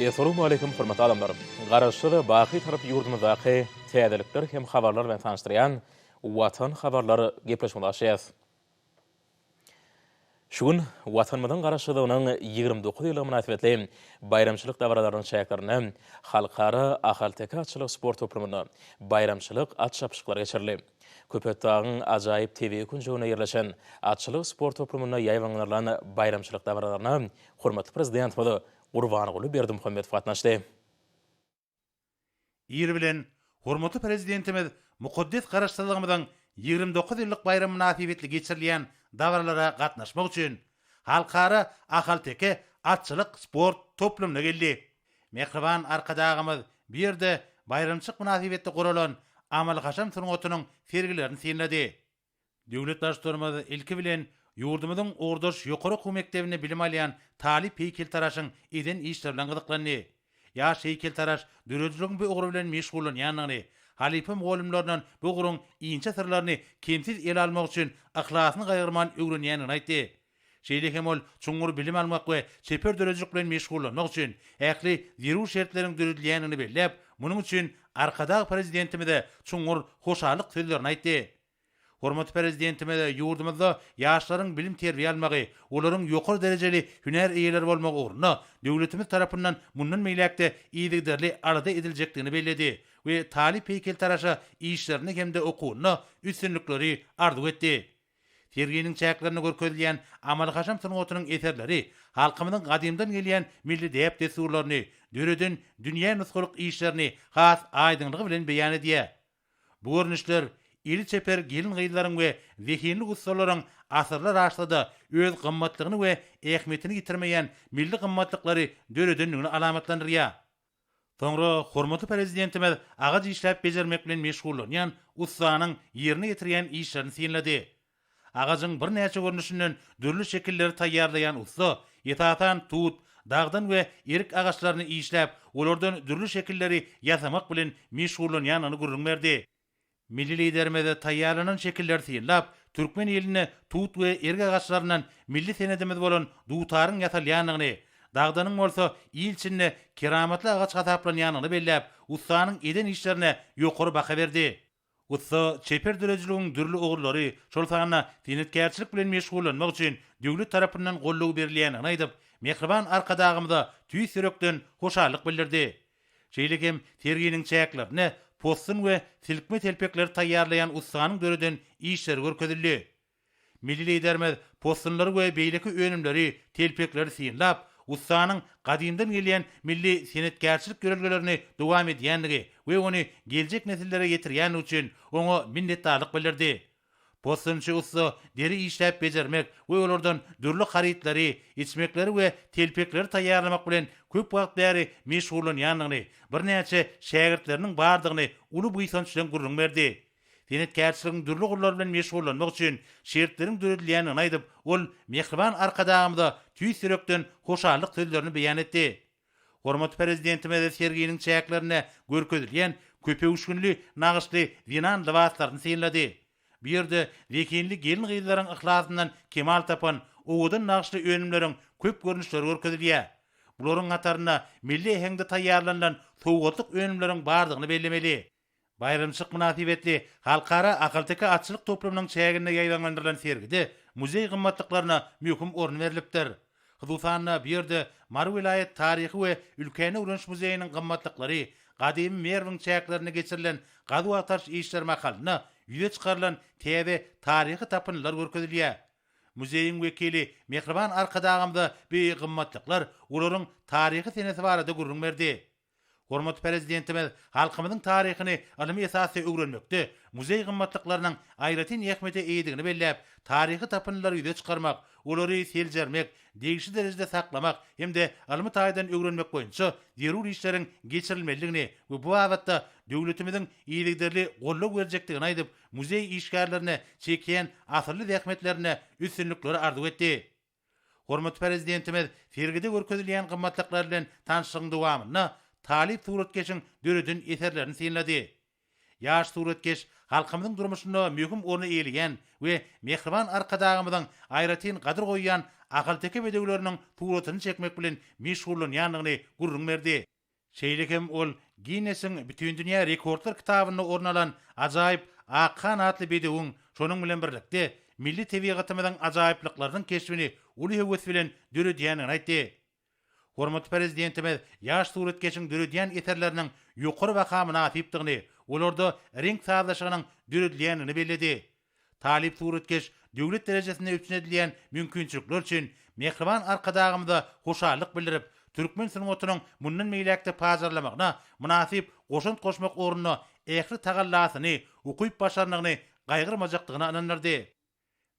Essalawmaleýkim hormatly adamlar! Garaşsyz, baky Türk ýurdumyzdaky täzelikler hem habarlar bilen tanyşdyrýan Watan habarlar gepleşigimizi açýas. Şu gün Watanymyzyň Garaşsyzlygynyň ýigrimi dokuz ýyllygy mynasybetli baýramçylyk dabaralarynyň çäklerinde Halkara ahalteke atçylyk sport toplumynda baýramçylyk at çapyşyklary geçirildi. Köpetdagyň ajaýyp tebigy künjeginde ýerleşen atçylyk sport toplumynda ýaýbaňlarylan baýramçylyk dabaralaryna hormatly Prezidentimiz Gurbanguly Berdimuhamedow gatnaşdy. Ir bilen hormatly Prezidentimiz mukaddes Garaşsyzlygymyzyň ýigrimi dokuz ýyllyk baýramy mynasybetli geçirilýän dabaralara gatnaşmak üçin Halkara ahalteke atçylyk sport toplumyna geldi. Mähriban Arkadagymyz bu ýerde baýramçyk mynasybetli guralan amaly-haşam sungatynyň sergilerini synlady. Döwlet Baştutanymyz ilki bilen ýurdumyzyň ugurdaş ýokary okuw mekdebinde bilim alýan talyp heýkeltaraşyň eden işleri bilen gyzyklandy. Ýaş heýkeltaraş döredijiligiň bu ugry bilen meşgullanýandygyny, halypa mugallymlaryndan bu ugruň inçe syrlaryny kemsiz ele almak üçin yhlasyny gaýgyrman öwrenýändigini aýtdy. Şeýle hem ol çuňňur bilim almak we çeper döredijilik bilen meşgullanmak üçin ähli zerur şertleriň döredilýändigini belläp, munuň üçin Arkadag Prezidentimize çuňňur hoşallyk sözlerini aýtdy. Hormatly Prezidentimiz ýurdumyzda ýaşlaryň bilim-terbiýe almagy, olaryň ýokary derejeli hünär eýeleri bolmagy ugrunda döwletimiz tarapyndan mundan beýläk-de yzygiderli alada ediljekdigini belledi we talyp heýkeltaraşa işlerinde hem-de okuwynda üstünlikleri arzuw etdi. Serginiň çäklerinde görkezilýän amaly-haşam sungatynyň eserleri halkymyzyň gadymdan gelýän milli däp-dessurlaryny, döreden dünýä nusgalyk işlerini has aýdyňlygy bilen beýan edýär. Bu görnüşler eli çeper gelin-gyzlaryň we zehinli ussalaryň asyrlar aşsa-da öz gymmatlygyny we ähmiýetini ýitirmeýän milli gymmatlyklary döredendigini alamatlandyrýar. Soňra hormatly Prezidentimiz agaç işläp bejermek bilen meşgullanýan ussanyň ýerine ýetirýän işlerini synlady. Agajyň birnäçe görnüşinden dürli şekilleri taýýarlaýan ussa, esasan, tut, dagdan we erik agaçlaryny işläp, olardan dürli şekilleri ýasamak bilen meşgullanýandygyny gürrüň berdi. Milli Liderimize taýýarlanan şekilleri synlap, türkmen ilinde tut we erik agaçlaryndan milli senedimiz bolan dutaryň ýasalýandygyny, dagdanyň bolsa il içinde keramatly agaç hasaplanýandygyny belläp, ussanyň eden işlerine ýokary baha berdi. Ussa çeper döredijiligiň dürli ugurlary, şol sanda senetkärçilik bilen meşgullanmak üçin döwlet tarapyndan goldaw berilýändigini aýdyp, mähriban Arkadagymyza tüýs ýürekden hoşallyk bildirdi. Şeýle hem serginiň çäklerinde possun we silkme telpekleri taýýarlaýan ussanyň döreden işleri görkezildi. Milli Liderimiz possunlary we beýleki önümleri, telpekleri synlap, ussanyň gadymdan gelýän milli senetkärçilik ýörelgelerini dowam edýändigi we ony geljek nesillere ýetirýändigi üçin oňa minnetdarlyk bildirdi. Possunçy ussa deri işläp bejermek we olardan dürli harytlary, içmekleri we telpekleri taýýarlamak bilen köp wagt bäri meşgullanýandygyny, birnäçe şägirtleriniň bardygyny uly buýsanç bilen gürrüň berdi. Senetkärçiligiň dürli gurlary bilen meşgullanmak üçin şertleriň döredilýändigini aýdyp, ol mähriban Arkadagymyza tüýs ýürekden hoşallyk sözlerini beýan etdi. Hormatly Prezidentimiz serginiň çäklerinde görkezilýän köpöwüşginli nagyşly zenan lybaslaryny synlady. Bu ýerde zehinli gelin-gyzlaryň yhlasyndan kemal tapan owadan nagyşly önümleriň köp görnüşleri görkezilýär. Bularyň hatarynda milli äheňde taýýarlanylan sowgatlyk önümleriň bardygyny bellemeli. Baýramçylyk mynasybetli Halkara ahalteke atçylyk toplumynyň çäginde ýaýbaňlandyrylan sergide muzeý gymmatlyklaryna möhüm orun berlipdir. Hususan-da, bu ýerde Mary welaýat taryhy we ülkäni öwreniş muzeýiniň gymmatlyklary, gadymy Merwiň çäklerinde geçirilen gazuw-agtaryş işleri mahalynda ýüze çykarylan täze taryhy tapyndylar görkezilýär. Muzeýiň wekili Mähriban Arkadagymyza bu gymmatlyklar, olaryň taryhy senesi barada gürrüň berdi. Hormatly Prezidentimiz halkymyzyň taryhyny ylmy esasda öwrenmekde muzeý gymmatlyklarynyň aýratyn ähmiýete eýedigini belläp, taryhy tapyndylary ýüze çykarmak, olary seljermek, degişli derejede saklamak hem-de ylmy taýdan öwrenmek boýunça zerur işleriň geçirilmelidigini we bu babatda döwletimiziň yzygiderli goldaw berjekdigini aýdyp, muzeý işgärlerine çekýän asylly zähmetlerinde üstünlikleri arzuw etdi. Hormatly Prezidentimiz sergide görkezilýän gymmatlyklar bilen tanyşlygyň dowamynda talyp suratkeşiň döreden eserlerini synlady. Ýaş suratkeş halkymyzyň durmuşynda möhüm orny eýeleýän we mähriban Arkadagymyzyň aýratyn gadyr goýýan ahalteke bedewleriniň suratyny çekmek bilen meşgullanýandygyny gürrüň berdi. Şeýle hem ol Ginnesiň Bütindünýä rekordlar kitabynda orun alan ajaýyp Ak han atly bedewiň, şonuň bilen birlikde, milli tebigatymyzyň ajaýyplyklarynyň keşbini uly höwes bilen döredýändigini aýtdy. Hormatly Prezidentimiz ýaş suratkeşiň döredýän eserleriniň ýokary baha mynasypdygyny, olarda reňk sazlaşygynyň döredilýändigini belledi. Talyp suratkeş döwlet derejesinde üpjün edilýän mümkinçilikler üçin mähriban Arkadagymyza hoşallyk bildirip, türkmen sungatynyň mundan beýläk-de pajarlamagyna mynasyp goşant goşmak ugrunda ähli tagallasyny, ukyp-başarnygyny gaýgyrmajakdygyna ynandyrdy.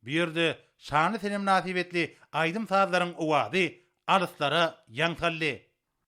Bu ýerde şanly sene mynasybetli aýdym-sazlaryň owazy alyslara ýaň saldy.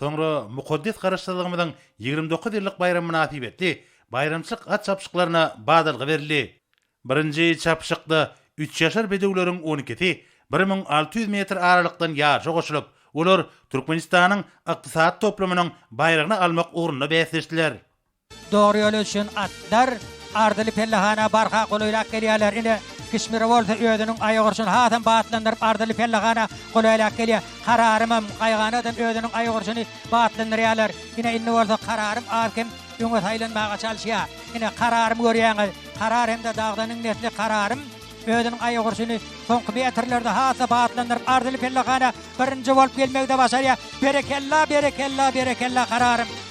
Soňra mukaddes Garaşsyzlygymyzyň ýigrimi dokuz ýyllyk baýramy mynasybetli baýramçylyk at çapyşyklaryna badalga berildi. Birinji çapyşykda üçýaşar bedewleriň on ikisi bir müň alty ýüz metr aralykdan ýaryşa goşulyp, olar Türkmenistanyň Ykdysady toplumynyň baýragyny almak ugrunda bäsleşdiler. Dogry ýoly üçin atlar arzyly pellehana barha golaýlap gelýärler. Ine, Kişmir bolsa özüniň aýak urşuny hasam batlandyryp arzyly pellehana golaýlap gelýär. Kararymam, Gaýganadam özüniň aýak urşuny batlandyrýarlar. Ine, indi bolsa Kararym az-kem öňe saýlanmaga çalyşýar. Ine, Kararymy görýäňiz. Karar hem-de Dagdanyň nesli Kararym özüniň aýak urşuny soňky metrlerde has-da batlandyryp arzyly pellehana birinji bolup gelmegi-de başarýar. Berekella, berekella, berekella Kararym!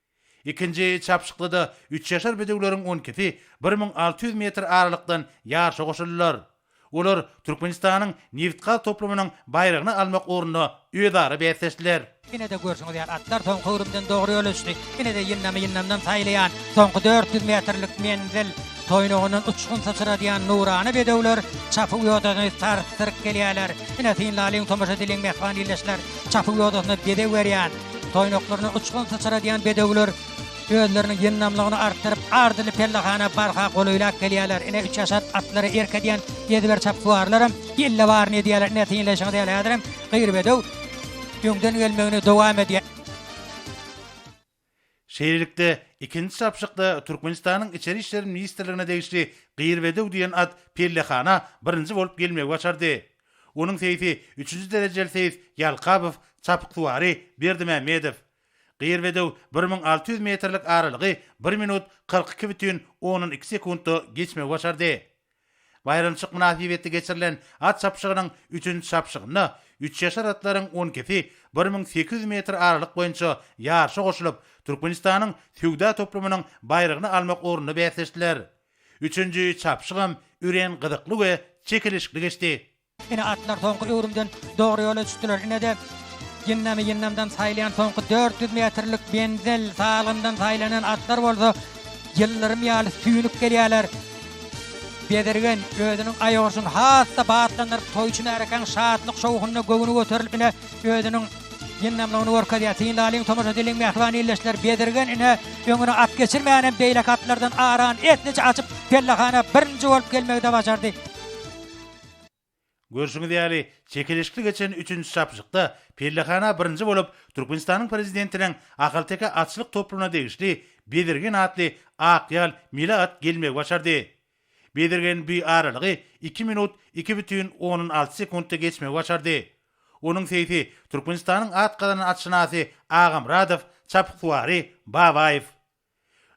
Ikinji çapyşykda-da üç ýaşar bedewleriň on ikisi bir müň alty ýüz metr aralykdan ýaryşa goşuldylar. Olar Türkmenistanyň nebit-gaz toplumynyň baýragyny almak ugrunda özara bäsleşdiler. Ine-de görşüňiz ýaly atlar soňky öwrümden dogry ýol düşdi. Ine-de ýyndamy ýyndamdan saýlaýan soňky dört ýüz metrlik menzil. Toýnagyndan uçgun syçradýan nurana bedewler çapyk ýodasyny sarsdyryp gelýärler. Ine, synlalyň tomaşa edeliň mähriban ildeşler, çapyk ýodasyna bezeg berýän, toýnaklaryndan uçgun syçradýan bedewler özleriniň ýyndamlygyny artdyryp, arzyly pellehana barha golaýlap gelýärler. Ine, üç ýaşar atlara erk edýän ýediber çapyksuwarlaram ýelde baryny edýärler. Ine, synlaýşyňyz ýaly, häzirem gyr bedew öňden gelmegini dowam edýär. Şeýlelikde, ikinji çapyşykda Türkmenistanyň Içeri işler ministrligine degişli Gyrbedew diýen at pellehana birinji bolup gelmegi başardy. Onuň seýsi üçünji derejeli seýs Ýalkabow, çapyksuwary Berdimämmedow. Gyrbedew bir müň alty ýüz metrlik aralygy bir minut kyrk iki bütin ondan iki sekuntda geçmegi başardy. Baýramçyk mynasybetli geçirilen at çapyşygynyň üçünji çapyşygynda üç ýaşar atlaryň on ikisi bir müň sekiz ýüz metr aralyk boýunça ýaryşa goşulyp, Türkmenistanyň söwda toplumynyň baýragyny almak ugrunda bäsleşdiler. Üçünji çapyşygam örän gyzykly we çekeleşikli geçdi. Ine, atlar soňky öwrümden dogry ýola düşdüler. Ine-de, ýyndamy-ýyndamdan saýylýan soňky dört ýüz metrlik menzil, salgyndan saýlanan atlar bolsa ýyldyrym ýaly süýnüp gelýärler. Bezirgen özüniň aýagurşuny has-da batlandyryp, toýçy märkäň şatlyk-şowhunyna göwni göterilip, ine, özüniň ýyndamlygyny görkezýär. Syn lalyň, tomaşa diliň, mähriban ildeşler! Bezirgen, ine, öňüne at geçirmänhem beýleki atlardan arany esliçe açyp, pellehana birinji bolup gelmegi-de bajardy. Görşüňiz ýaly, çekeleşikli geçen üçünji çapyşykda pellehana birinji bolup Türkmenistanyň Prezidentiniň ahalteke atçylyk toplumyna degişli Bezirgen atly ak ýal mili at gelmegi başardy. Bezirgen bu aralygy iki minut iki bütin ondan alty sekuntda geçmegi başardy. Onuň seýsi Türkmenistanyň at gazanan atşynasy Agamyradow, çapyksuwary Babaýew.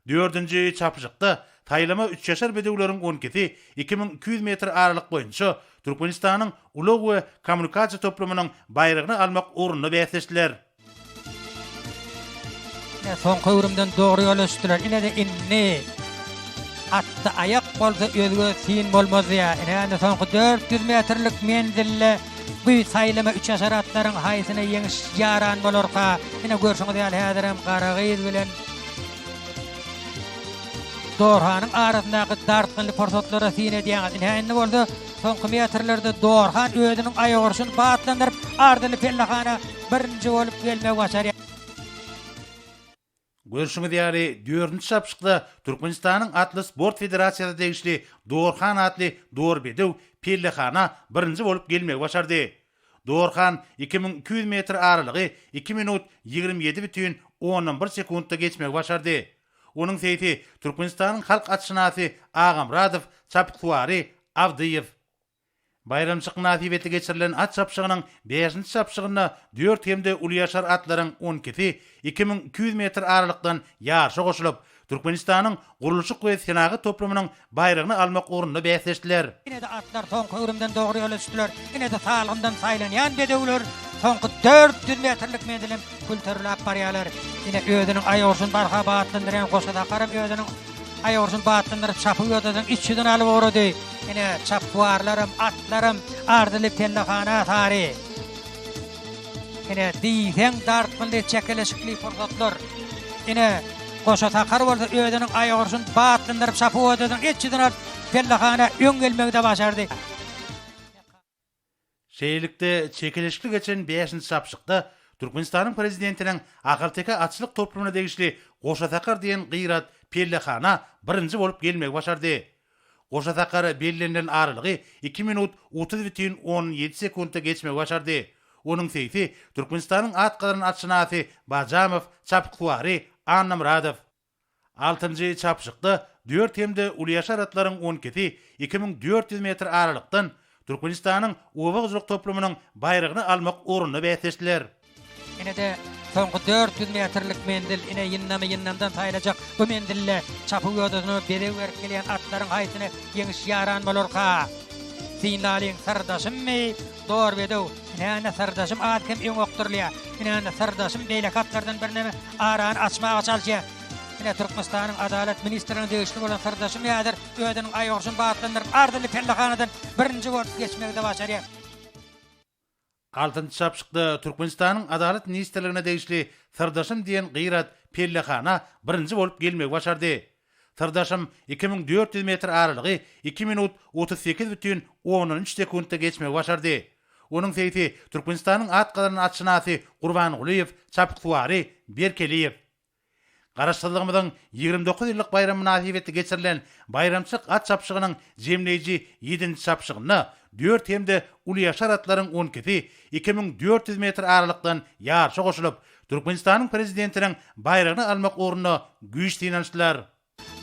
Dördünji çapyşykda saýlama üçýaşar bedewleriň on ikisi iki müň iki ýüz metr aralyk boýunça Türkmenistanyň ulag we kommunikasiýa toplumynyň baýragyny almak ugrunda bäsleşdiler. Ine soňky öwrümden dogry ýola düşdiler inede indi atda aýak bolsa özge syn bolmazdy ýa ine indi soňky dört ýüz metrlik menzilde. Guy saýlama üçaşar atlaryň haýsyna ýeňiş ýaran bolarka? Ine görşüňiz ýaly häzirem Garagyz bilen Dorhanyň arasyndaky dartgynly pursatlara syn edýäňiz. Ine indi bolsa soňky metrlerde Dorhan özüniň aýak urşuny batlandyryp, ardyly pellehana birinji bolup gelmegi başarýar. Görşüňiz ýaly, dördünji çapyşykda Türkmenistanyň atly sport federasiýasyna degişli Dorhan atly dorbedew pellehana birinji bolup gelmegi başardy. Dorhan iki müň iki ýüz metr aralygy iki minut ýigrimi ýedi bütin ondan bir sekuntda geçmegi başardy. Onuň seýsi Türkmenistanyň halk atşynasy Agamyradow, çapyksuwary Abdyýew. Baýramçyk mynasybetli geçirilen at çapyşygynyň bäşinji çapyşygynda dört hem-de ulyýaşar atlaryň on ikisi iki müň iki ýüz metr aralykdan ýaryşa goşulyp, Türkmenistanyň gurluşyk we senagat toplumynyň baýragyny almak ugrunda bäsleşdiler. Ine-de atlar soňky öwrümden dogry ýola düşdüler. Ine-de salgyndan saýlanýan bedewler soňky dört ýüz metrlik menziliň Külterläp barýarlar. Ine, özüniň aýagurşuny barha batlandyrýan Goşa Sakaram özüniň aýagurşuny batlandyryp, çapy ýodadyň iç ýüzüni alyp ugrady. Ine, çapywarlaram, atlaram arzyly pellehana sary. Ine, diýseň dartgynly, çekeleşikli pursatlar. Ine, Goşa Sakar bolsa özüniň aýagurşuny batlandyryp, çapy ýodadyň iç ýüzüni alyp, pellehana öň gelmegi-de başardy. Şeýlelikde, çekeleşikli geçen bäşinji çapyşykda Türkmenistanyň Prezidentiniň Ahalteke atçylyk toplumyna degişli Goşa Sakar diýen gyrat pellehana birinji bolup gelmegi başardy. Goşa Sakar bellenilen aralygy iki minut otuz bütin on ýedi sekuntda geçmegi başardy. Onuň seýsi Türkmenistanyň at gazanan atşynasy Bajamow, çapyksuwary Annamyradow. Altynjy çapyşykda dört hem-de uly ýaşar atlaryň on ikisi iki müň dört ýüz metr aralykdan Türkmenistanyň oba hojalyk toplumynyň baýragyny almak ugrunda bäsleşdiler. Ine-de, soňky dört ýüz metrlik menzil. Ine, ýyndamy ýyndamdan saýlajak bu menzilde çapyk ýodasyna bezeg berip gelýän atlaryň haýsyna ýeňiş ýaran bolarka? Synlalyň, syrdaşymmy? Dor bedew, Inäni syrdaşym az kem öň okdurylýa. Inäni syrdaşym beýleki atlardan birneme arany açmaga çalyşýa. Ine Türkmenistanyň Adalat ministrine degişli bolan syrdaşym häzir özüniň aýgurşuny batlandyryp ardyly pellehanadan birinji bolup geçmegide başarýa. Altynjy çapyşykda Türkmenistanyň Adalat ministrligine degişli syrdaşym diýen gyrat pellehana birinji bolup gelmegi başardy. Syrdaşym iki müň dört ýüz metr aralygy iki minut otuz sekiz bütin ondan üç sekuntda geçmegi başardy. Onuň seýsi Türkmenistanyň at gazanan atşynasy Gurban Gulyýew, çapyksuwary Berkeliýew. Garaşsyzlygymyzyň ýigrimi dokuz ýyllyk baýramy mynasybetli geçirilen baýramçylyk at çapyşygynyň jemleýji ýedinji çapyşygynda dört hem-de ulyýaşar atlaryň on ikisi iki müň dört ýüz metr aralykdan ýaryşa goşulyp, Türkmenistanyň Prezidentiniň baýragyny almak ugrunda güýç synanyşdylar.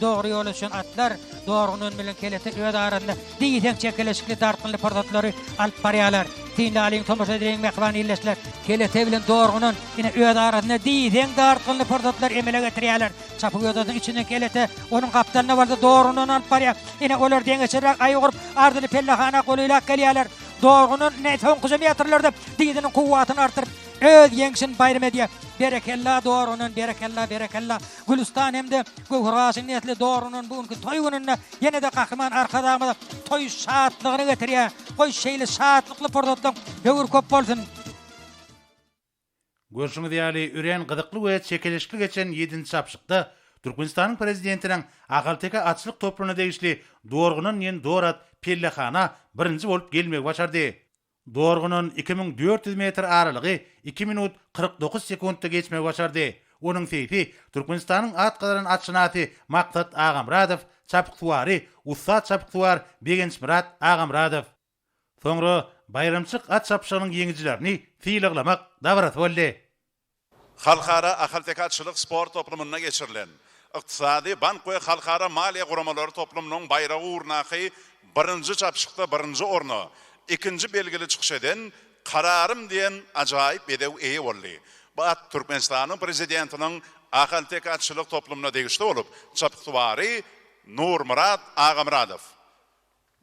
Dogry ýola düşen atlar dorgunan bilen kelete öz arasynda diýseň çekeleşikli dartgynly pursatlary alyp barýarlar. Synly alyň tomaşa edeliň mähriban ildeşler. Kelete bilen dorgunan ine öz arasynda diýseň dartgynly pursatlary emele getirýärler. Çapygözadyň içinden kelete, onuň gapdalyna bolsa dorgunany alyp barýar. Ine olar deňeçerräk aýy gurup arzyly pellehana golaýlap gelýärler. Dorgunan ine soňky jemýatyrlarda diziniň kuwwatyny artdyryp. Öz ýeňşin baýram edýär. Berekella dogrunan berekella berekella Gülüstan hemde Göwheraşyň nesli dogrunan bu günki toý gününde ýenede Gahryman Arkadagymyza toý şatlygyny getirýär. Goý şeýle şatlykly pursatlaň höwür köp bolsun. Görşüňiz ýaly örän gyzykly we çekeleşikli geçen ýedinji çapyşykda Türkmenistanyň Prezidentiniň Ahalteke atçylyk topruna degişli Dorgunan ýen Dorat pellehana birinji bolup gelmegi başardy. Dorgunyň iki müň dört ýüz metr aralygy iki minut kyrk dokuz sekuntda geçmegi başardy. Onuň seýfi Türkmenistanyň at gazanan atşynasy Maksat Agamyradow, çapyksuwary, ussat çapyksuwar Begençmyrat Agamyradow. Soňra baýramçylyk at çapyşygynyň ýeňijilerini sylaglamak dabarasy boldy. Halkara ahalteke-atçylyk sport toplumynda geçirilen, Ykdysady, bank we halkara maliýe guramalary toplumynyň baýragy ugrundaky birinji çapyşykda birinji orna, ikinji belgili çykyş eden Kararym diýen ajaýyp bedew eýe boldy. Bu at Türkmenistanyň Prezidentiniň ahalteke-atçylyk toplumyna degişli bolup, çapyksuwary Nurmyrat Agamyradow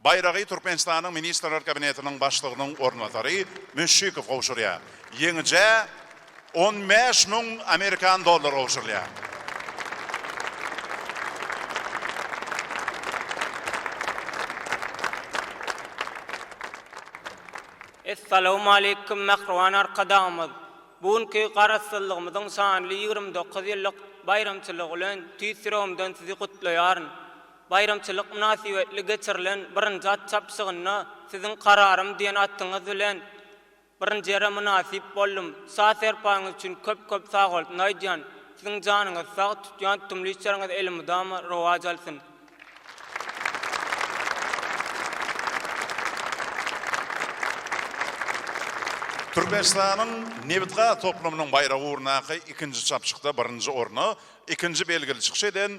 Baýragy Türkmenistanyň Ministrler Kabinetiniň Başlygynyň orunbasary Müşşikow gowşurýar. Ýeňijä on bäş müň amerikan dollary gowşurylýar. Essalawmaleýkum mähriban Arkadagymyz! Bu günki Garaşsyzlygymyzyň şanly ýigrimi dokuz ýyllyk baýramçylygy bilen tüýs ýüregimden Sizi gutlaýaryn. Baýramçylyk mynasybetli geçirilen birinji at çapyşygynda Siziň Kararym diýen atyňyz bilen birinji ýere mynasyp boldum. Saz-serpaňyz üçin köp-köp sagbolsun aýdýan. Siziň janyňyz sag, tutýan tutumly işleriňiz elmydama rowaç alsyn. Türkmenistanyň nebit-gaz toplumynyň baýragy ugrundaky ikinji çapyşykda birinji orna ikinji belgili çykyş eden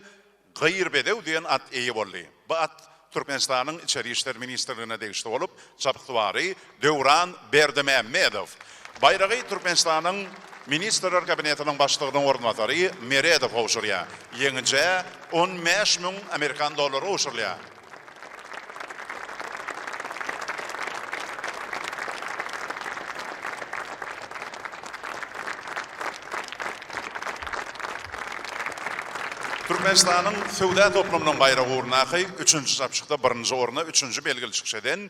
Gyr bedew diýen at eýe boldy. Bu at Türkmenistanyň Içeri işler ministrligine degişli bolup, çabswary Döwran Berdimämmedow. Baýragy Türkmenistanyň Ministrler Kabinetiniň Başlygynyň orunbasary Meredow gowşurýar. Ýeňijä on bäş müň amerikan dollary gowşurylýar. Türkmenistanyň söwda toplumynyň baýragy ugrundaky üçünji çapyşykda birinji orna üçünji belgili çykyş eden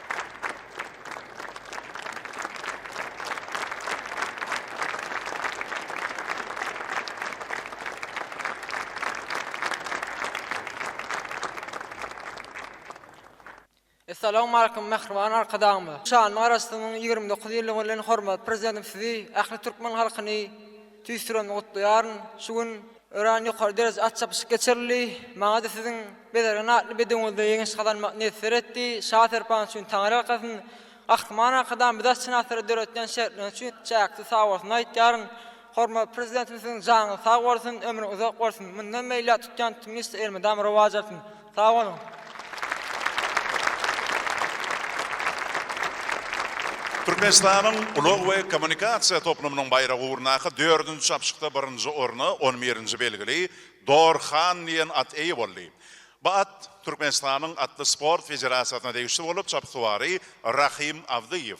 Essalawmaleýkum mähriban Arkadagymyz! Şanly Garaşsyzlygyň ýigrimi dokuz ýyllygy bilen hormatly Prezidentimiz Sizi, ähli türkmen halkyny, Tüýs turan gutlaýaryn. Şu gün örän ýokary dereje at çapyşyk geçirildi. Maňa-da siziň bezergen atly bedewňizde ýeňiş gazanmak miýesser etdi. Şa Serpan üçin Taňry alkasyn. Gahryman Arkadag biz atşynaslara döretýän şertler üçin çäksiz sagbolsun aýtýaryn. Hormatly Prezidentimiziň janyňyz sag bolsun, ömrüň uzak bolsun. Mundan beýläk tutýan tutumyňyzda elmydama rowaç alsyn. Sag boluň. Türkmenistanyň ulag we kommunikasiýa toplumynyň baýragy ugrundaky dördünji çapyşykda birinji orna on birinji belgili Dor Han diýen at eýe boldy. Bu at Türkmenistanyň Atly sport federasiýasyna degişli bolup, çapyksuwary Rahym Awdyýew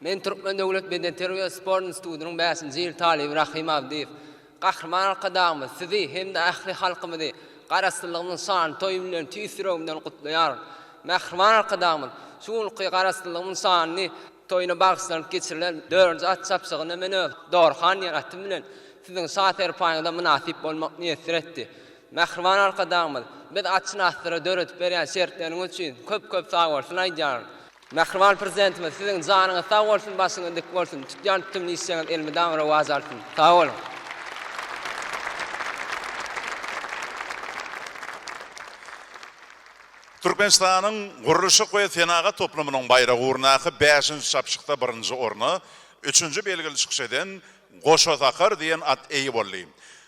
Men Türkmen döwlet bedenterbiýe we sport institutynyň bäşinji ýyl talyby Rahym Abdyýew. Gahryman Arkadagymyz Sizi hem-de ähli halkymyzy Garaşsyzlygymyzyň şanly toýy bilen tüýs ýüregimden gutlaýaryn. Mähriban Arkadagymyz şu günki Garaşsyzlygymyzyň şanly toýuna bagyşlanyp geçirilen dördünji at çapyşygyna men öz Dorhan diýen atym bilen Siziň şa-serpaýyňyza mynasyp bolmak miýesser etdi. Mähriban Arkadagymyz biz atşynaslara döredip berýän şertleriňiz üçin köp-köp sagbolsun aýdýaryn. Mähriban Prezidentimiz siziň janyňyz sag bolsun başyňyz dik bolsun tutýan tutumly işleriňiz elmydama rowaç alsyn sag boluň. Türkmenistanyň gurluşyk we senagat toplumynyň baýragy ugrundaky bäşinji çapyşykda birinji orna üçünji belgili çykyş eden Goşasakar diýen at eýe boldy.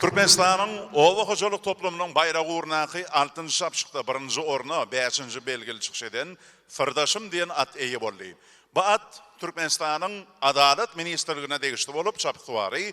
Türkmenistanyň Oba hojalyk toplumynyň baýragy ugrundaky altyn şapşykda birinji orna bäşinji belgili çykyş eden Syrdaşym diýen at eýe boldy. Bu at Türkmenistanyň Adalat ministrligine degişli bolup, çapyksuwary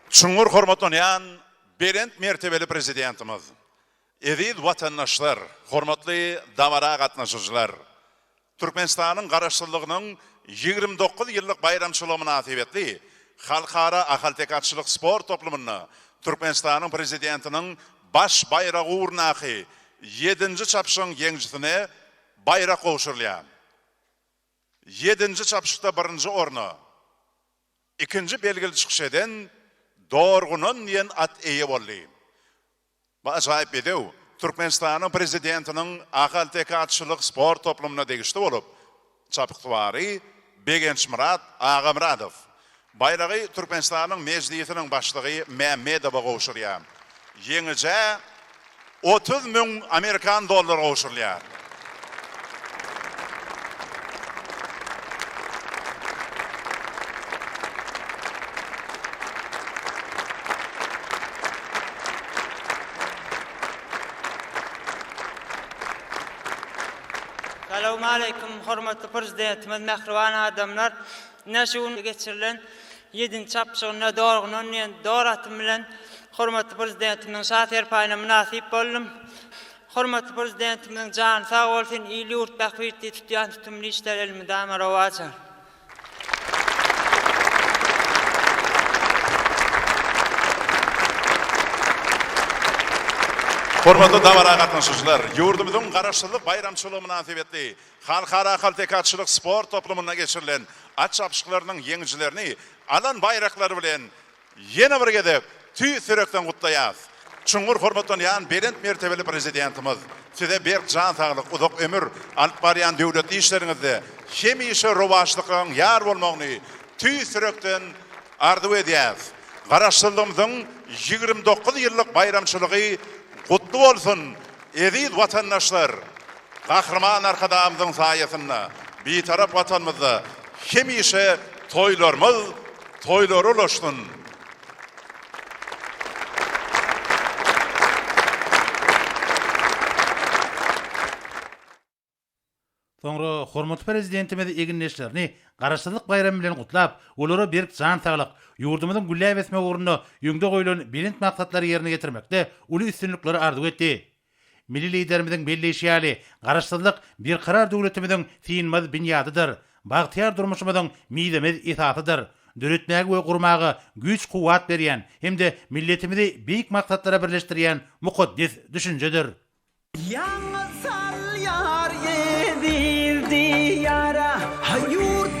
Çuňňur hormatlanýan Belent mertebeli Prezidentimiz, eziz watandaşlar, hormatly dabara gatnaşyjylar! Türkmenistanyň Garaşsyzlygynyň ýigrimi dokuz ýyllyk baýramçylygy mynasybetli Halkara ahalteke atçylyk sport toplumynda Türkmenistanyň Prezidentiniň baş baýragy ugrundaky ýedinji çapyşygyň ýeňijisine baýrak gowşurylýar. Ýedinji çapyşykda birinji orna. Ikinji belgili çykyş eden Dorgunan diýen at eýe boldy. Bu ajaýyp bedew Türkmenistanyň Prezidentiniň ahalteke atçylyk sport toplumyna degişli bolup, çapyksuwary Begençmyrat Agamyradow baýragy Türkmenistanyň Mejlisiniň Başlygy Mämmedowa gowşurýar. Ýeňijä otuz müň amerikan dollary gowşurylýar. Salowmaleýkim, hormatly Prezidentimiz, mähriban adamlar! Ine, şu gün geçirilen Ýedinji çapyşygynda dorguna ünýän dor atym bilen hormatly Prezidentimiziň şa serpaýyna mynasyp boldum. Hormatly Prezidentimiziň jany sag bolsun, il-ýurt bähbitli tutýan tutumly işler elmydama rowaja. Hormatly dabara gatnaşyjylar, ýurdumyzyň Garaşsyzlyk baýramçylygy mynasybetli Halkara ahalteke-atçylyk sport toplumynda geçirilen at çapyşyklarynyň ýeňijilerini alan baýraklary bilen ýene bir gezek tüýs ýürekden gutlaýas. Çuňňur hormatlanýan belent mertebeli Prezidentimiz, Size berk jan saglyk, uzak ömür, alyp barýan döwletli işleriňizde hemişe rowaçlykyň ýar bolmagyny tüýs ýürekden arzuw edýäs. Garaşsyzlygymyzyň ýigrimi dokuz ýyllyk baýramçylygy gutly bolsun, eziz watandaşlar! Gahryman Arkadagymyzyň saýasynda Bitarap Watanymyzda hemişe toýlarymyz toýlara ulaşsyn! Soňra hormatly Prezidentimiz egindeşlerini Garaşsyzlyk baýramy bilen gutlap, olara berk jan saglyk, ýurdumyzyň gülläp ösmegi ugrunda öňde goýlan belent maksatlary ýerine ýetirmekde uly üstünlikleri arzuw etdi. Milli Liderimiziň belleýşi ýaly, Garaşsyzlyk Berkarar döwletimiziň synmaz binýadydyr, bagtyýar durmuşymyzyň mizemez esasydyr, döretmäge we gurmaga güýç-kuwwat berýän hem-de milletimizi beýik maksatlara birleşdirýän mukaddes düşünjedir. Ýaňa salýar eziz Diýara, Yurt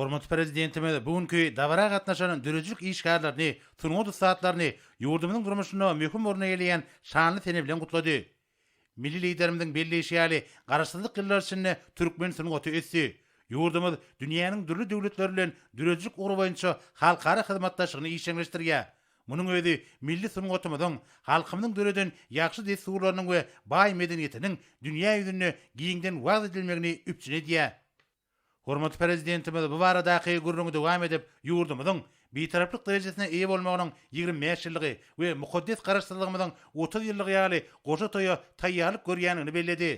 Hormatly Prezidentimiz bu günki dabara gatnaşan döredijilik işgärlerini, sungat ussatlaryny ýurdumyzyň durmuşynda möhüm orun eýeleýän şanly sene bilen gutlady. Milli Liderimiziň belleýşi ýaly, Garaşsyzlyk ýyllary içinde türkmen sungaty ösdi. Ýurdumyz dünýäniň dürli döwletleri bilen döredijilik ugry boýunça halkara hyzmatdaşlygyny işjeňleşdirýär. Munuň özi milli sungatymyzyň, halkymyzyň döreden ýagşy dessurlarynyň we baý medeniýetiniň dünýä ýüzünde giňden wagyz edilmegini üpjün edýär. Hormatly Prezidentimiz bu baradaky gürrüňi dowam edip, ýurdumyzyň Bitaraplyk derejesine eýe bolmagynyň ýigrimi bäş ýyllygy we mukaddes Garaşsyzlygymyzyň otuz ýyllygy ýaly goşa toýa taýýarlyk görýändigini belledi.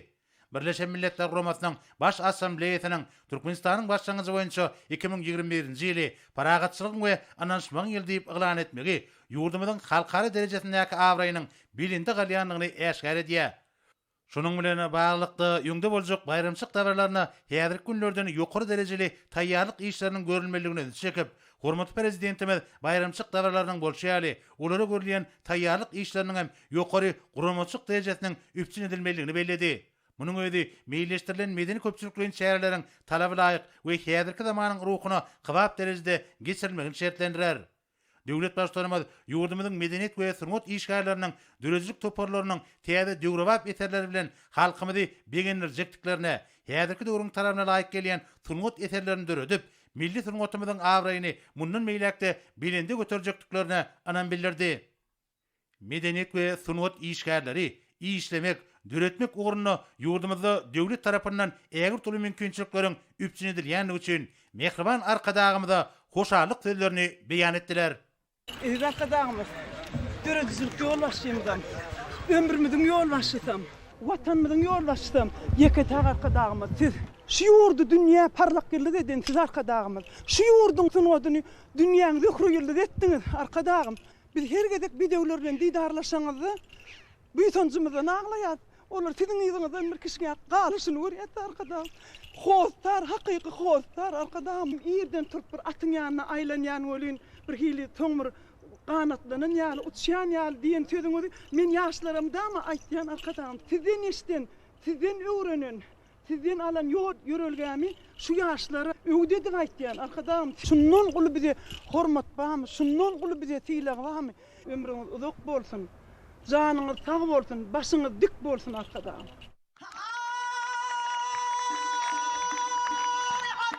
Birleşen Milletler Guramasynyň Baş Assambleýasynyň Türkmenistanyň başlangyjy boýunça iki müň ýigrimi birinji ýyly Parahatçylygyň we ynanyşmagyň ýyly diýip yglan etmegi ýurdumyzyň halkara derejesindäki abraýynyň belende galýandygyny äşgär edýär. Şunuň bilen baglylykda, öňde boljak baýramçylyk dabaralaryna häzirki günlerden ýokary derejeli taýýarlyk işleriniň görülmelidigine ünsi çekip, hormatly Prezidentimiz baýramçylyk dabaralarynyň bolşy ýaly, olara görülýän taýýarlyk işleriniň hem ýokary guramaçylyk derejesiniň üpjün edilmelidigini belledi. Munuň özi meýilleşdirilen medeni-köpçülikleýin çäreleriň talabalaýyk we häzirki zamanyň ruhuna kybap derejede geçirilmegini şertlendirer. Döwlet Baştutanymyz ýurdumyzyň medeniýet we sungat işgärleriniň, döredijilik toparlarynyň täze döwrebap eserleri bilen halkymyzy begendirjekdiklerine, häzirki döwrüň talabyna laýyk gelýän sungat eserlerini döredip, milli sungatymyzyň abraýyny mundan beýläk-de belende göterjekdiklerine ynam bildirdi. Medeniýet we sungat işgärleri işlemek, döretmek ugrunda ýurdumyzda döwlet tarapyndan ägirt uly mümkinçilikleriň üpjün edilýändigi üçin mähriban Arkadagymyza hoşallyk sözlerini beýan etdiler. Eziz Arkadagymyz, döredijilik ýolbaşçymyzam, ömrümiziň ýolbaşçysam, Watanymyzyň ýolbaşçysam Ýeke-täk Arkadagymyz Siz! Şu ýurdy dünýä parlak ýyldyz eden Siz, Arkadagymyz! Şu ýurduň sungatyny dünýäň zöhre-ýyldyz etdiňiz, Arkadagym! Biz her gezek bedewler bilen didarlaşanyzda buýsanjymyzdan aglaýas. Olar siziň yzyňyzdan bir kişňäp galyşyny görýäs-de Arkadag. Hossar, hakyky hossar Arkadagym. Irden turup bir atyň ýanyna aýlanýan welin, bir hili soň bir ganatlanan ýaly, uçýan ýaly diýen sözüňizi men ýaşlaramdama aýtýan Arkadagym. Sizden eşden, sizden öwrenen. Sizden alan ýol ýörelgämi şu ýaşlara öwdedik aýtýan Arkadagym şundan uly bize hormat barmy şundan uly bize sylag barmy ömrüňiz uzak bolsun janyňyz sag bolsun başyňyz dik bolsun Arkadagym.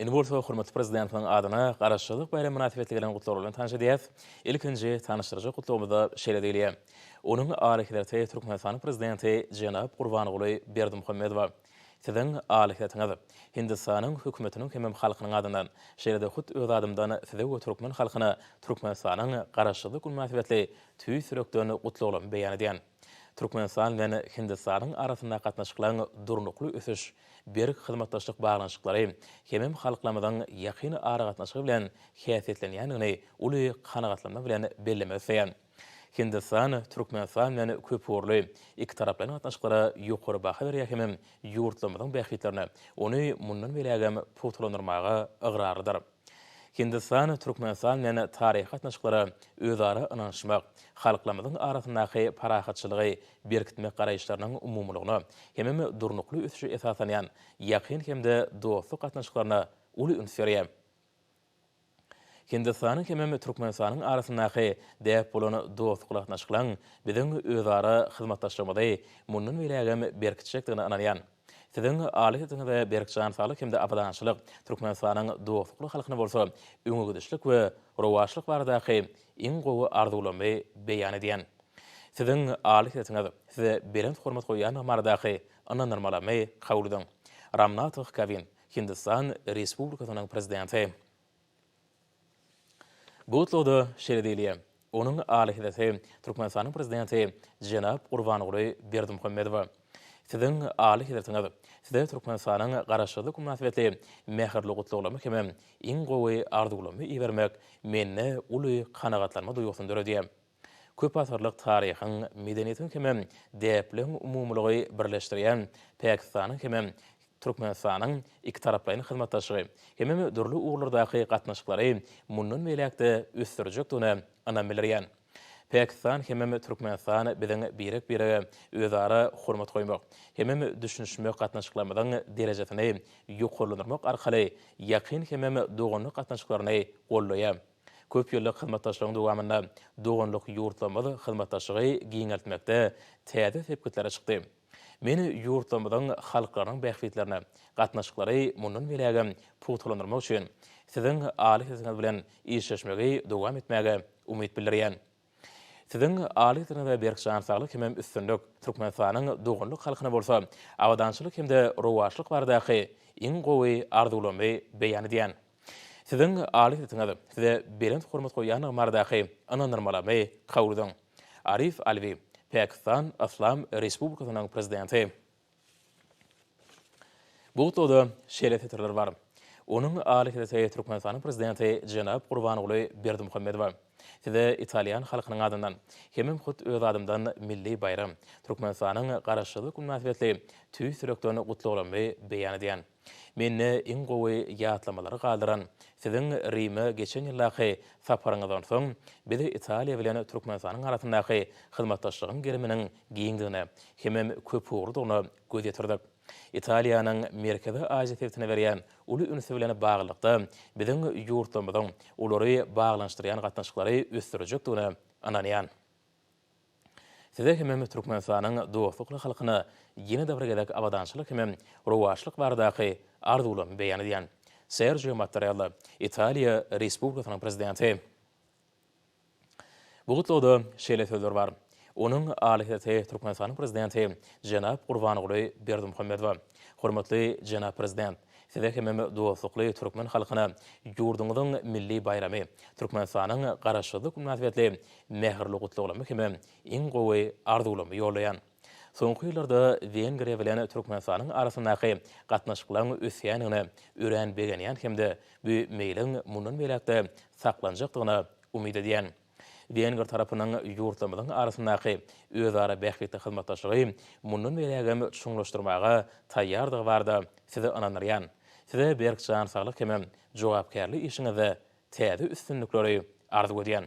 Indi bolsa hormatly Prezidentimiziň adyna Garaşsyzlyk baýramy mynasybetli gelen gutlaglary bilen tanyş edýäs. Ilkinji tanyşdyrjak gutlagymyzda şeýle diýilýär, Onuň Alyhezreti Türkmenistanyň Prezidenti jenap Gurbanguly Berdimuhamedowa Siziň Alyhezretiňiz, Hindistanyň Hökümetiniň hemem halkynyň adyndan, şeýle-de hut öz adymdan Size we türkmen halkyna Türkmenistanyň Garaşsyzlyk güni mynasybetli tüýs ýürekden gutlaglamy beýan edýän. Türkmenistan bilen Hindistanyň arasyndaky gatnaşyklaryň durnukly ösüş, berk hyzmatdaşlyk baglanyşyklary, hemem halklarymyzyň ýakyn aragatnaşygy bilen häsiýetlenýändigini uly kanagatlanma bilen bellemek isleýän. Hindistan Türkmenistan bilen köpugurly, ikitaraplaýyn gatnaşyklara ýokary baha berýär hemem ýurtlarymyzyň bähbitlerine ony mundan beýlägem pugtalandyrmaga ygrarlydyr. Hindistan, Türkmenistan bilen taryhy gatnaşyklara özara ynanyşmak, halklarymyzyň arasyndaky parahatçylygy berkitmek garaýyşlarynyň umumylygyna, hemem durnukly ösüşe esaslanýan ýakyn hem-de dostluk gatnaşyklaryna uly üns berýär. Hindistanyň hemem Türkmenistanyň arasyndaky däp bolan dostlukly gatnaşyklaň biziň özara hyzmatdaşlygymyzy mundan beýlägem berkitjekdigine ynanýan. Siziň aly sesiňize berk jan saglyk hem-de abadançylyk, Türkmenistanyň dostlukly halkyna bolsa öňegidişlik we rowaçlyk baradaky iň gowy arzuwlarymy beýan edýän. Siziň aly sesiňiz, size belent hormat goýýandygym baradaky ynandyrmalamy kabul ediň. Ramnatah Kowin, Hindistan Respublikasynyň Prezidenti. Bu tutlugda şeýle diýilýär, Onuň Alyhezreti Türkmenistanyň Prezidenti jenap Gurbanguly Berdimuhamedowa, Siziň Alyhezretiňiz Size Türkmenistanyň Garaşsyzlyk mynasybetli mähirli gutlaglamy hemem iň gowy arzuwlamy ibermek mende uly kanagatlanma duýgusyny döredýär. Köp asyrlyk taryhyň, medeniýetiň hem-ä däplegiň umumylygy birleşdirýän Pakistanyň hem-ä Türkmenistanyň ikitaraplaýyn hyzmatdaşlygy hemem dürli ugurlardaky gatnaşyklary mundan beýläk-de ösdürjekdigine ynam bildirýän. Pakistan hem-ä Türkmenistan biziň birek-birege özara hormat goýmak hem-ä düşünişmek gatnaşyklarymyzyň derejesini ýokarlandyrmak arkaly ýakyn hem-ä doganlyk gatnaşyklaryny goldaýar. Köp ýyllyk hyzmatdaşlygyň dowamynda doganlyk ýurtlarymyz hyzmatdaşlygy giňeltmekde täze sepgitlere çykdy. Men ýurtlarymyzyň halklarynyň bähbitlerine gatnaşyklary mundan beýlägem pugtalandyrmak üçin Siziň aly sesiňiz bilen işleşmegi dowam etmäge umyt bildirýän. Siziň alyjyna we berk jan saglyk hemem üstünlik, Türkmenistanyň doganlyk halkyna bolsa abadançylyk hemde rowaçlyk baradaky iň gowy arzuwlarymy beýan edýän. Siziň alyjysyňyz size belent hormat goýýandygym baradaky ynandyrmalamy kabul ediň. Arif Alwi, Pakistan Yslam Respublikasynyň Prezidenti. Bu gutlagyda şeýle setirler bar, Onuň alikadresi Türkmenistanyň Prezidenti jenap Gurbanguly Berdimuhamedowa, Size italýan halkynyň adyndan, hemem hut öz adymdan milli baýram, Türkmenistanyň Garaşsyzlyk güni mynasybetli tüýs ýürekden gutlaglarymy beýan edýän. Mende iň gowy ýatlamalary galdyran Siziň Rime geçen ýyldaky saparyňyzdan soň, biz Italiýa bilen Türkmenistanyň arasyndaky hyzmatdaşlygyň geriminiň giňdigine hemem köpugurlydygyna göz ýetirdik. Italiýanyň Merkezi Aziýa sebitine berýän uly ünsi bilen baglylykda, biziň ýurtlarymyzyň olary baglanyşdyrýan gatnaşyklary ösdürjekdigine ynanýan. Size hemem Türkmenistanyň dostlukly halkyna ýene-de bir gezek abadançylyk hemem rowaçlyk baradaky arzuwlarymy beýan edýän. Serjio Mattarella, Italiýa Respublikasynyň Prezidenti. Bu gutlagda şeýle sözler bar. Onuň Alyhezreti Türkmenistanyň Prezidenti jenap Gurbanguly Berdimuhamedowa, Hormatly jenap Prezident, Size hemem dostlukly türkmen halkyna ýurduňyzyň milli baýramy, Türkmenistanyň Garaşsyzlyk münasybetli mähirli gutlaglarmy hemem iň gowy arzuwlarmy ýollaýan. Soňky ýyllarda Wengriýa bilen Türkmenistanyň arasyndaky gatnaşyklaryň ösýändigine örän begenýän hem-de bu meýliň mundan beýläk-de saklanjakdygyna umyt edýän. Wenger tarapynyň ýurtlarymyzyň arasyndaky özara bähbitli hyzmatdaşlygy mundan beýlägem çuňlaşdyrmaga taýýardygy barada sizi ynandyrýan. Size berk jan saglyk hemem jogapkärli işiňizde täze üstünlikleri arzuw edýän.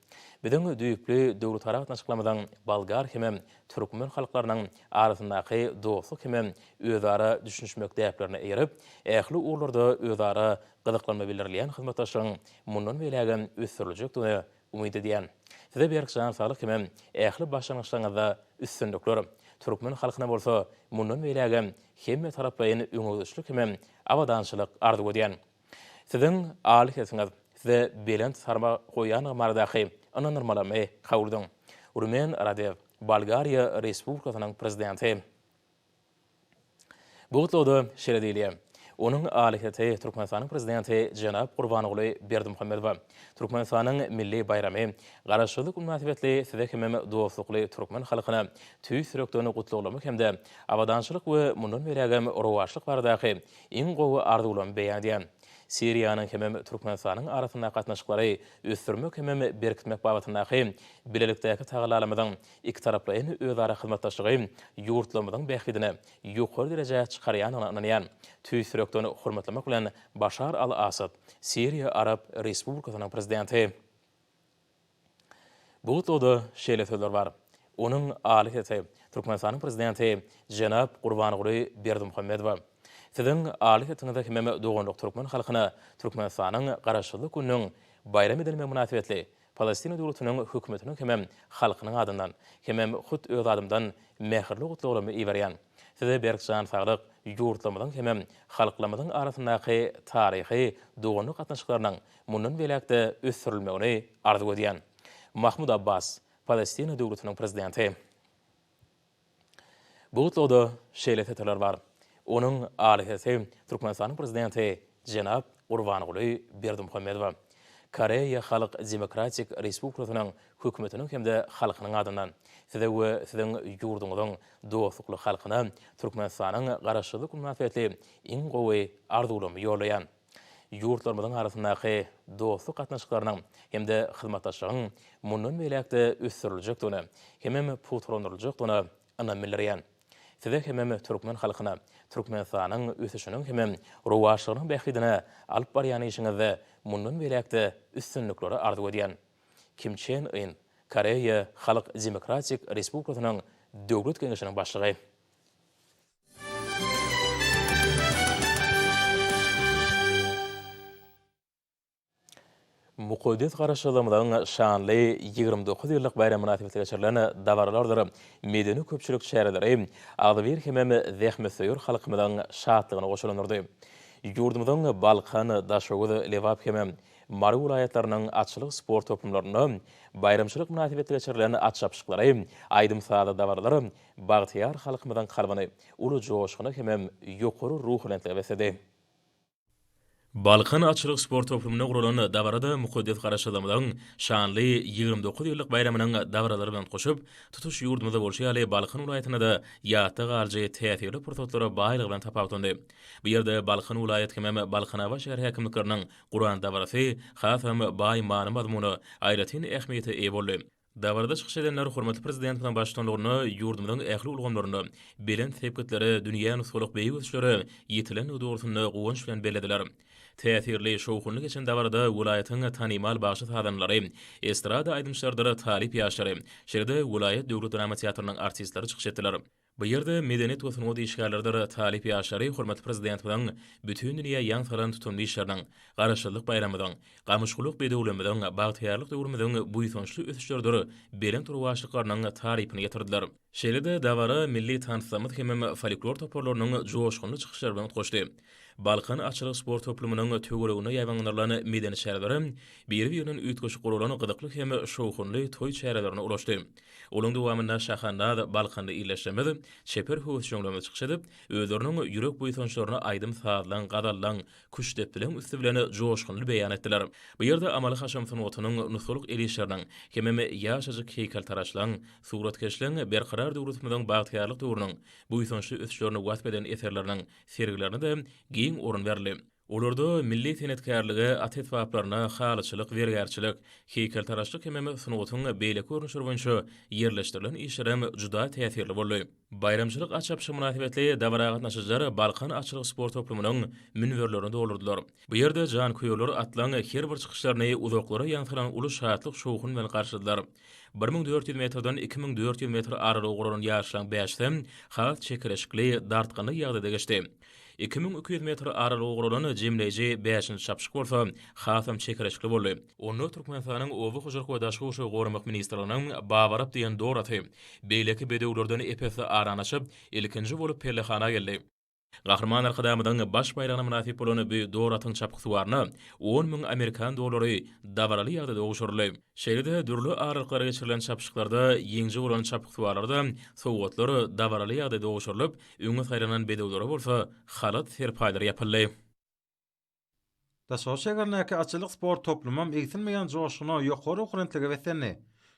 Biziň düýpli döwletara gatnaşyklarymyzyň bolgar hemem türkmen halklarynyň arasyndaky dostluk hemem özara düşünişmek däplerine eýerip, ähli ugurlarda özara gyzyklanma bildirilýän hyzmatdaşlygyň mundan beýlägem ösdüriljekdigine umyt edýän. Size berk jan saglyk hemem ähli başlangyçlaryňyzda üstünlikler, türkmen halkyna bolsa mundan beýlägem hemmetaraplaýyn öňegidişlik hemem abadançylyk arzuw edýän. Siziň aly sesiňiz size belent sarma goýandygy baradaky ynandyrmalamy howludyň? Rumen Radew, Bolgariýa Respublikasynyň Prezidenti. Bu gutlagda şeýle diýilýär, Onuň aly sesi Türkmenistanyň Prezidenti jenap Gurbanguly Berdimuhamedowa, Türkmenistanyň milli baýramy Garaşsyzlyk mynasybetli size hemem dostlukly türkmen halkyna tüýs ýürekden gutlaglama hem-de abadançylyk we mundan beýlägem rowaçlyk baradaky Iň gowy arzuwlarymy beýan edýän. Siriýanyň hemem Türkmenistanyň arasyndaky gatnaşyklary ösdürmek hemem berkitmek babatyndaky bilelikdäki tagallalarymyzyň ikitaraplaýyn özara hyzmatdaşlygy ýurtlarymyzyň bähbidine ýokary derejä çykarýandygyna ynanýan. Tüýs ýürekden hormatlamak bilen Başar al-Assad, Siriýa Arap Respublikasynyň Prezidenti. Bu tutlugda şeýle sözler bar, Onuň aly sesi Türkmenistanyň Prezidenti jenap Gurbanguly Berdimuhamedowa, Siziň aly sesiňize hemem doganlyk türkmen halkyna Türkmenistanyň Garaşsyzlyk gününiň baýram edilmegi mynasybetli Palestina döwletiniň hökümetiniň hemem halkynyň adyndan, hemem hut öz adymdan mähirli gutlaglarymy iberýän. Size berk jan saglyk, ýurtlarymyzyň hemem halklarymyzyň arasyndaky taryhy doganlyk gatnaşyklarynyň mundan beýläk-de ösdürilmegini arzuw edýän Mahmud Abbas, Palestina döwletiniň prezidenti. Bu gutlagda şeýle setirler bar. Onuň aly sesi Türkmenistanyň prezidenti jenap Gurbanguly Berdimuhamedowa, Koreýa Halk Demokratik Respublikasynyň Hökümetiniň hem-de halkynyň adyndan, Size we Siziň ýurduňyzyň dostlukly halkyna Türkmenistanyň Garaşsyzlyk bilen mynasybetli iň gowy arzuwlarymy ýollaýan. ýurtlarymyzyň arasyndaky dostluk gatnaşyklarynyň hem-de hyzmatdaşlygyň mundan beýläk-de ösdüriljekdigine hemem pugtalandyryljakdygyna ynam bildirýän. Size hemem türkmen halkyna Türkmenistanyň ösüşiniň hemem rowaçlygynyň bähbidine alyp barýan işiňizde mundan beýläk-de üstünlikleri arzuw edýän. Kim Çen Yn, Koreýa Halk Demokratik Respublikasynyň Döwlet Geňeşiniň Başlygy. Mukaddes Garaşsyzlygymyzyň şanly ýigrimi dokuz ýyllyk baýramy mynasybetli geçirilen dabaralardyr medeni-köpçülik çäreleri agzybir hemem zähmetsöýer halkymyzyň şatlygyna goşulandyrdy. Ýurdumyzyň Balkan, Daşoguz, Lebap hemem Mary welaýatlarynyň atçylyk sport toplumlarynda baýramçylyk mynasybetli geçirilen at çapyşyklary, aýdym-sazly dabaralar bagtyýar halkymyzyň kalbyny uly joşguna hemem ýokary ruhubelentlige besledi. Balkan atçylyk sport toplumynda guralan dabarada mukaddes Garaşsyzlygymyzyň şanly ýigrimi dokuz ýyllyk baýramynyň dabaralary bilen goşup, tutuş ýurdumyzda bolşy ýaly Balkan welaýatynda-da ýatda galyjy täsirli pursatlara baýlygy bilen tapawutlandy. Bu ýerde Balkan welaýat hemem Balkanabat şäher häkimlikleriniň guran dabarasy hasam baý many-mazmuna, aýratyn ähmiýete eýe boldy. Dabarada çykyş edenler hormatly Prezidentimiziň baştutanlygynda ýurdumyzyň ähli ulgamlarynda belent sepgitlere, dünýä nusgalyk beýik ösüşlere ýetilendigi dogrusynda guwanç bilen bellediler. Täsirli, şowhunly geçen dabarada welaýatyň tanymal bagşy-sazandalary, estrada aýdymçylarydyr talyp ýaşlary, şeýle-de welaýat döwlet drama teatrynyň artistleri çykyş etdiler. Bu ýerde medeniýet we sungat işgärleridir talyp ýaşlary hormatly Prezidentimiziň bütin dünýä ýaň salan tutumly işleriniň, Garaşsyzlyk baýramymyzyň, gamyşgulak bedewligimiziň, bagtyýarlyk döwrümiziň buýsançly ösüşleridir belent rowaçlyklarynyň tarypyny ýetirdiler. Şeýle-de dabara milli tanslarymyz hemem folklor toparlarynyň joşgunly çykyşlary bilen utgaşdy. Balkan atçylyk sport toplumynyň töwereginde ýaýbaňlanylan medeni çäreler biri-birinden üýtgeşik guralan gyzykly hem şowhunly toý çärelerine ulaşdy. Onuň dowamynda şahandaz balkanly ildeşlerimiz çeper höwesjeňlerine çykyş edip, özleriniň ýürek buýsançlaryny aýdym-sazlaň, gazallaň, küştdepdileň üsti bilen joşgunly beýan etdiler. Bu ýerde amaly-haşam sungatynyň nusgalyk el işleriniň hemem ýaşajyk heýkeltaraşlaň, suratkeşleň Berkarar döwletimiziň bagtyýarlyk döwrüniň buýsançly ösüşlerini wasp eden eserleriniň sergilerine-de giň orun berildi. Olarda milli senetkärlige, at esbaplaryna, halyçylyk, zergärçilik, heýkeltaraşlyk hemem sungatyň beýleki görnüşleri boýunça ýerleşdirilen işlerem juda täsirli boldy. Baýramçylyk at çapyşy mynasybetli dabara gatnaşyjylar Balkan atçylyk sport toplumynyň münberlerini doldurdylar. Bu ýerde janköýerler atlaryň her bir çykyşlaryny uzaklara ýaňsylan uly şatlyk-şowhun bilen garşyladylar. Bir müň dört ýüz metrden iki müň dört ýüz metr aralygy guralan ýaryşlaryň bäşisem has çekeleşikli, dartgynly ýagdaýda geçdi. Iki müň iki ýüz metr aralygy guralan jemleýji bäşinji çapyşyk bolsa hasam çekeleşikli boldy. Onda Türkmenistanyň Oba hojalyk we daşky gurşawy goramak ministrliginiň Babarap diýen dor aty, beýleki bedewlerden ep-esli arany açyp, ilkinji bolup pellehana geldi. Gahryman Arkadagymyzyň Baş baýragyna mynasyp bolan bu dor atyň çapyksuwaryna on müň amerikan dollary dabaraly ýagdaýda gowşuryldy. Şeýle-de dürli aralyklara geçirilen çapyşyklarda ýeňiji bolan çapyksuwarlara-da sowgatlar dabaraly ýagdaýda gowşurylyp, Öňe saýlanan bedewlere bolsa halat serpaýlary ýapyldy. Daşoguz şäherindäki atçylyk sport toplumam egsilmeýän joşguna, ýokary okurentlige beslendi.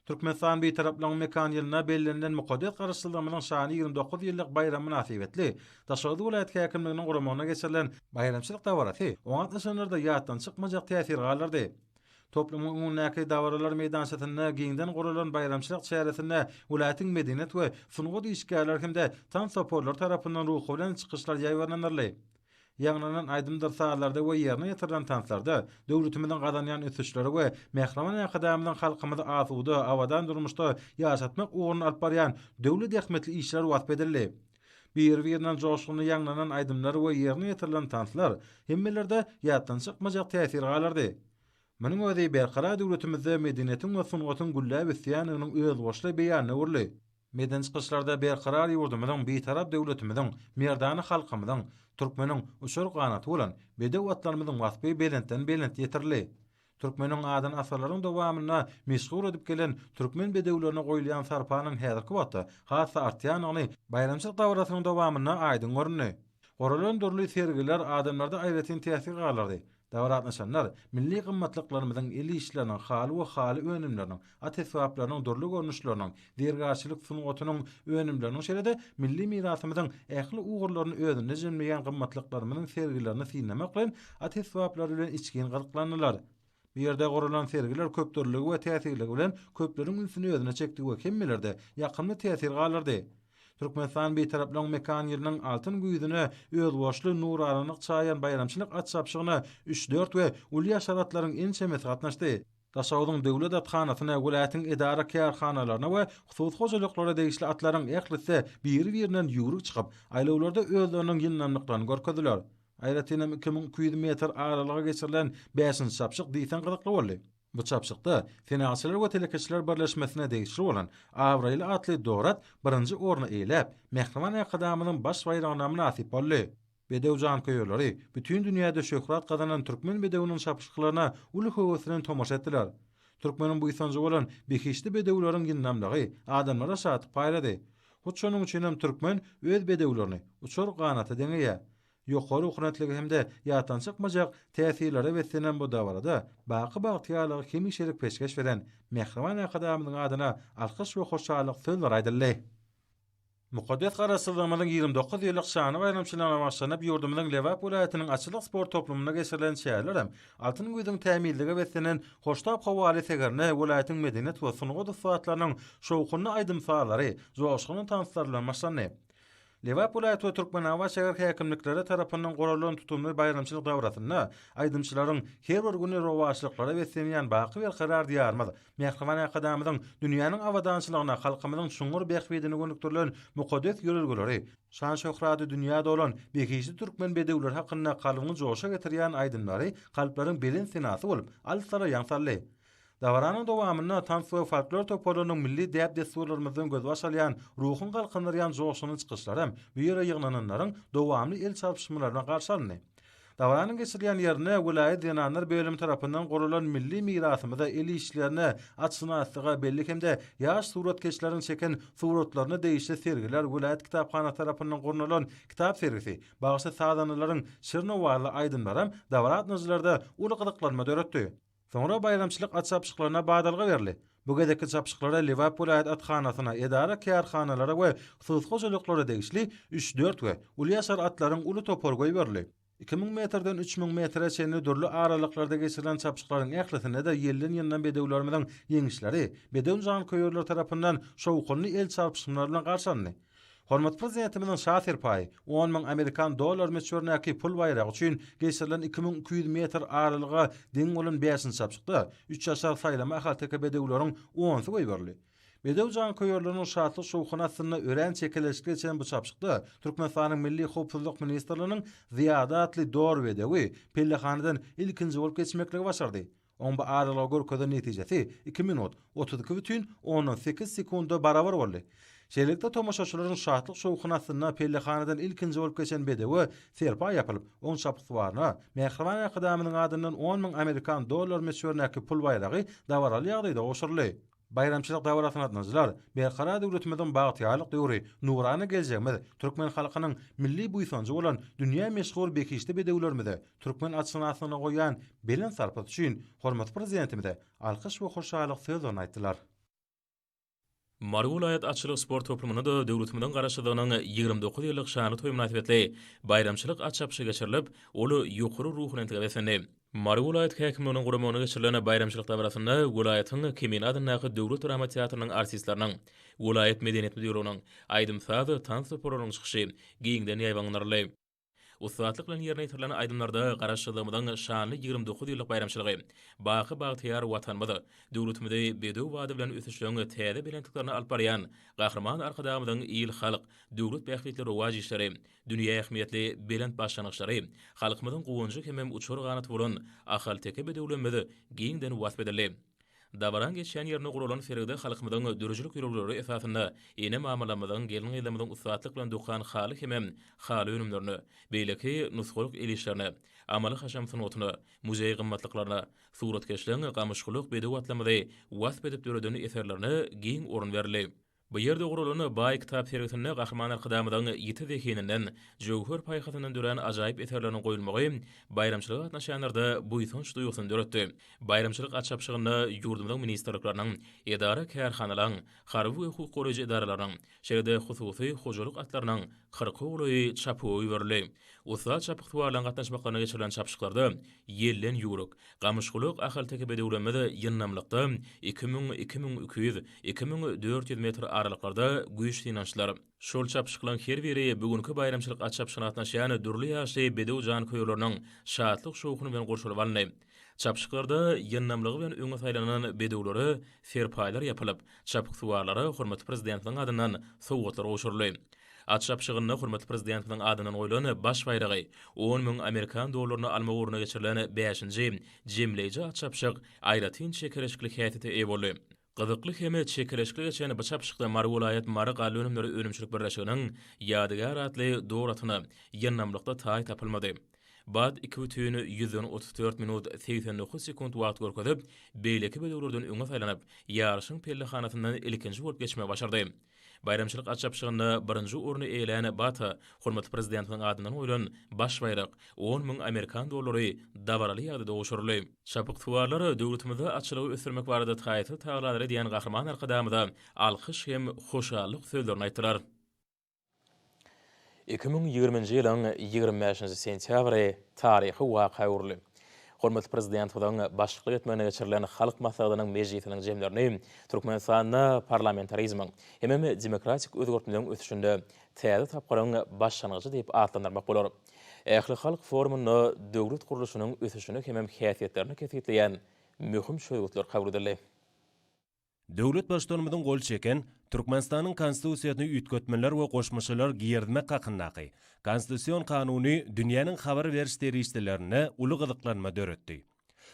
Türkmenistan Bitaraplygynyň mekany ýylynda bellenilen mukaddes Garaşsyzlygymyzyň şany ýigrimi dokuz ýyllyk baýramy mynasybetli Daşoguz welaýat häkimliginiň guramagynda geçirilen baýramçylyk dabarasy oňa gatnaşanlarda ýatdan çykmajak täsir galdyrdy. Toplumyň öňündäki dabaralar meýdançasynda giňden guralan baýramçylyk çäresinde welaýatyň medeniýet we sungat işgärleri hem-de tans toparlary tarapyndan ruhubelent çykyşlar ýaýbaňlanyldy. Ýaňlanan aýdymdyr sazlarda we ýerine ýetirilen tanslarda döwletimiziň gazanýan ösüşleri we Mähriban Arkadagymyzyň halkymyzy asuda, abadan durmuşda ýaşatmak ugrunda alyp barýan dürli zähmetli işleri wasp edildi. Biri-birinden joşgunly ýaňlanan aýdymlar we ýerine ýetirilen tanslar hemmelerde ýatdan çykmajak täsir galdyrdy. Munuň özi Berkarar döwletimizde medeniýetiň we sungatyň gülläp ösýändiginiň özboluşly beýanyna öwrüldi. Medeni çykyşlarda Berkarar ýurdumyzyň, Bitarap döwletimiziň, merdana halkymyzyň, türkmeniň uçar ganaty bolan bedew atlarymyzyň waspy belentden-belent ýetirildi. Türkmeniň adyny asyrlaryň dowamynda meşhur edip gelen türkmen bedewlerine goýulýan sarpanyň häzirki wagtda has-da artýandygyny baýramçylyk dabarasynyň dowamynda aýdyň göründi. Guralan dürli sergiler adamlarda aýratyn täsir galdyrdy. Dabara gatnaşanlar milli gymmatlyklarymyzyň, el işleriniň haly we haly önümleriniň, At esbaplarynyň dürli görnüşleriniň, zergärçilik sungatynyň önümleriniň şeýle-de milli mirasymyzyň ähli ugurlaryny özünde jemleýän gymmatlyklarymyzyň sergilerini synlamak bilen at esbaplary bilen içgin gyzyklandylar. Bu ýerde guralan sergiler köpdürlüligi we täsirligi bilen köpleriň ünsüni özüne çekdi we hemmelerde ýakymly täsir galdyrdy. Türkmenistan Bitaraplygyň mekan ýylynyň altyn güýzüne özboluşly nuranalyk çaýan baýramçylyk at çapyşygyna üç-dört we uly ýaşar atlaryň ençemesi gatnaşdy. Daşoguzyň döwlet athanasyna, welaýatyň edara-kärhanalaryna we hususy hojalyklara degişli atlaryň ählisi biri-birinden ýüwrük çykyp, aýlawlarda özleriniň ýyndamlyklaryny görkezdiler. Aýratyn hem iki müň iki ýüz metr aralyga geçirilen bäşinji çapyşyk diýseň gyzykly boldy. Bu çapyşykda Senalçylar we telekeçiler birleşmesine degişli bolan Abraýly atly dor at birinji orny eýeläp, Mähriban Arkadagymyzyň Baş baýragyna mynasyp boldy. Bedew janköýerleri bütin dünýäde şöhrat gazanan türkmen bedewiniň çapyşyklaryna uly höwes bilen tomaşa etdiler. Türkmeniň buýsanjy bolan behişdi bedewleriň ýyndamlygy adamlara şatlyk paýlady. Hut şonuň üçin hem türkmen öz bedewlerini uçar ganata deňeýär. Ýokary okunatlygy hem-de ýatdan çykmajak täsirlere beslenen bu dabarada baky bagtyýarlygy hemişelik peşgeş beren Mähriban Arkadagymyzyň adyna alkyş we hoşallyk sözleri aýdyldy. Mukaddes Garaşsyzlygymyzyň ýigrimi dokuz ýyllyk şanly baýramçylygyna bagyşlanyp ýurdumyzyň Lebap welaýatynyň Atçylyk sport toplumynda geçirilen çäreler hem Altyn güýzüň tämizlige beslenen hoştap howaly segerine welaýatyň medeniýet we sungat ussatlarynyň şowhunly aýdym-sazlary, joşgunly tanslar bilen başlandy. Lebap welaýat we Türkmenabat şäher häkimlikleri tarapyndan guralan tutumly baýramçylyk dabrasynda aýdymçylaryň her bir güni rowaçlyklara beslenýän baky berkarar Diýarymyz, Mähriban Arkadagymyzyň dünýäniň abadançylygyna, halkymyzyň çuňňur bähbidine gönükdirilen mukaddes ýörelgeleri, şan-şöhraty dünýä dolan behişdi türkmen bedewleri hakynda kalbyňy joşa getirýän aýdymlary kalplaryň belent senasy bolup, alyslara ýaň saldy. Dabaranyň dowamynda tans we folklor toparlarynyň milli däp-dessurlarymyzdan gözbaş alýan ruhuň galkyndyrýan joşgunly çykyşlaram bu ýere ýygnananlaryň dowamly el çalpyşmalaryna garşy alyndy. Dabaranyň geçirilýän ýerine welaýat zenanlar bölümi tarapyndan guralan milli mirasymyza, el işlerine, atşynaslyga bellik hem-de ýaş suratkeşleriň çeken suratlaryna degişli sergiler, welaýat kitaphanasy tarapyndan gurnalan kitap sergisi, bagşy-sazandalaryň şirin owazly aýdymlaram dabaratnyjylarda uly gyzyklanma döretdi. Soňra baýramçylyk atçapyşyklaryna badalga berli. Bu gezekki çapyşyklara Lebap welaýat athanasyna, edara-kärhanalara we hususy hojalyklara degişli üç-dört we uly ýaşar atlaryň uly topary goýberli. Iki müň metrden üç müň metre çenli dürli aralyklarda geçirilen çapyşyklaryň ählisinde-de ýelden-ýyldan bedewlerimiziň ýeňişleri bedew janköýerleri tarapyndan şowhunly el çarpyşmlar bilen garşy alyndy. Hormatly Prezidentimiziň Şa serpaýy on müň amerikan dollary möçberindäki pul baýragy üçin geçirilen iki müň iki ýüz metr aralyga deň bolan bäşinji çapyşykda üçaşar saýlama ahalteke bedewleriň onsy goýberildi. Bedew janköýerleriniň şatlyk-şowhuny astynda örän çekeleşikli geçen bu çapyşykda Türkmenistanyň Milli howpsuzlyk ministrliginiň Zyýada atly dor bedewi pellehanadan ilkinji bolup geçmekligi başardy. Oň bu aralyga görkezen netijesi iki minut, otuz iki bütin ondan sekiz sekunda barabar boldy. Şeýlelikde, tomaşaçylaryň şatlyk-şowhuny astynda pellehanadan ilkinji bolup geçen bedewe serpaý ýapylyp, oň çapyksuwaryna Mähriban Arkadagymyzyň adyndan on müň amerikan dollary möçberindäki pul baýragy dabaraly ýagdaýda gowşuryldy. Baýramçylyk dabarasyna gatnaşyjylar Berkarar döwletimiziň bagtyýarlyk döwri, nurana geljegimiz, türkmen halkynyň milli buýsanjy bolan dünýä meşhur behişdi bedewlerimize türkmen atşynasyna goýýan belent sarpasy üçin hormatly Prezidentimize alkyş we hoşallyk sözlerini aýtdylar. Mary welaýat atçylyk sport toplumynda-da döwletimiziň Garaşsyzlygynyň ýigrimi dokuz ýyllyk şanly toýy mynasybetli baýramçylyk at çapyşy geçirilip, ol ýokary ruhubelentlige beslendi. Mary welaýat häkimliginiň guramagynda geçirilen baýramçylyk dabarasyna welaýatyň Kemine adyndaky döwlet drama teatrynyň artistleriniň, welaýat medeniýet müdirliginiň, aýdym-saz, tans toparlarynyň çykyşy giňden ýaýbaňlanyldy. Ussatlyk bilen ýerine ýetirilen aýdymlarda Garaşsyzlygymyzyň şanly ýigrimi dokuz ýyllyk baýramçylygy, baky bagtyýar Watanymyz, döwletimizi bedew bady bilen ösüşleriň täze belentliklerine alyp barýan Gahryman Arkadagymyzyň il-halk, döwlet bähbitli rowaç işleri, Dünýä ähmiýetli belent başlangyçlary, halkymyzyň guwanjy hemem uçar ganaty bolan ahalteke bedewlerimiz giňden wasp edildi. Dabaraň geçýän ýerinde guralan sergide halkymyzyň döredijilik ýörelgeleri esasynda ene-mamalarymyzyň, gelin-gyzlarymyzyň ussatlyk bilen dokan haly hemem haly önümlerine, beýleki nusgalyk el işlerine, amaly-haşam sungatyna, muzeý gymmatlyklaryna, suratkeşligiň gamyşgulak bedew atlarymyzy wasp edip döreden eserlerine giň orun berildi. Bu ýerde guralan baý kitap sergisinde Gahryman Arkadagymyzyň ýiti zehininden, jöwher paýhasyndan dörän ajaýyp eserleriniň goýulmagy baýramçylyga gatnaşýanlarda buýsanç duýgusyny döretdi. Baýramçylyk açabşygynda ýurdumyzyň ministrlikleriniň, edara-kärhanalaryň, harby we hukuk goraýjy edaralaryň, şeýle-de hususy hojalyk atlarynyň kyrk ogly çapyga iberildi. Ussat çapyksuwarlaryň gatnaşmaklarynda geçirilen çapyşyklarda ýelden ýüwrük, Gamyşgulak ahalteke bedewlerimiz ýyndamlykda iki müň, iki müň iki ýüz, iki müň dört ýüz metr aralyklarda güýç synanyşdylar. Şol çapyşyklaryň her biri bu günki baýramçylyk at çapyşygyna gatnaşýan dürli ýaşly bedew janköýerleriniň şatlyk-şowhuny bilen gurşalyp alyndy. Çapyşyklarda ýyndamlygy bilen öňe saýlanan bedewlere serpaýlar ýapylyp, Çapyksuwarlara hormatly Prezidentimiziň adyndan sowgatlar gowşuryldy. Açyş ýapyşygynda hormatly Prezidentimiziň adyndan goýlan Baş baýragy, on müň amerikan dollaryny almak ugrunda geçirilen bäşinji jemleýji açyş ýapyşyk aýratyn çekeleşikli häsiýete eýe boldy. Gyzykly hem çekeleşikli geçen bu çapyşykda Mary welaýat Mary galla önümleri önümçilik birleşiginiň Ýadygär atly dor atyna ýyndamlykda taý tapylmady. Bad iki bütin ýüzden otuz dört minut segsen dokuz sekunt wagt görkezip, beýleki bedewlerden öňe saýlanyp, ýaryşyň pellehanasyndan ilkinji bolup geçmegi başardy. Baýramçylyk at çapyşygynda birinji orny eýelän Bata hormatly Prezidentimiziň adyndan goýlan baş baýrak, on müň amerikan dollary dabaraly ýagdaýda gowşuryldy. Çapyksuwarlar döwletimizde atçylygy ösdürmek barada taýsyz tagallar edýän Gahryman Arkadagymyza alkyş hem hoşallyk sözlerini aýtdylar. Iki müň ýigriminji ýylyň ýigrimi bäşinji sentýabry taryhy waka öwrüldi. Hormatly Prezidentimiziň başlyklyk etmeginde geçirilen Halk Maslahatynyň mejlisiniň jemlerini Türkmenistanda parlamentarizmiň, hemem demokratik özgertmeleriň ösüşinde täze tapgyryň başlangyjy diýip atlandyrmak bolar. Ählihalk forumynda döwlet gurluşynyň ösüşini hemem häsiýetlerini kesgitleýän möhüm çözgütler kabul edildi. Döwlet Baştutanymyzyň gol çeken Türkmenistanyň Konstitusiýasyny üýtgetmeler we goşmaçalar girizmek hakyndaky Konstitusion Kanuny dünýäniň habar beriş serişdelerinde uly gyzyklanma döretdi.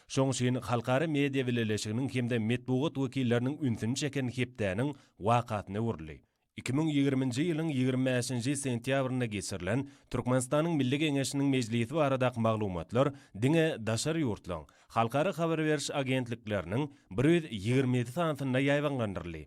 Şoň üçin halkara media bileleşiginiň hem-de metbugat wekilleriniň ünsüni çeken hepdäniň wakasyna öwrüldi. Iki müň ýigriminji ýylyň ýigrimi bäşinji sentýabrynda geçirilen Türkmenistanyň Milli Geňeşiniň mejlisi baradaky maglumatlar diňe daşary ýurtlaryň halkara habar beriş agentlikleriniň bir ýüz ýigrimi ýedi sanysynda ýaýbaňlandyryldy.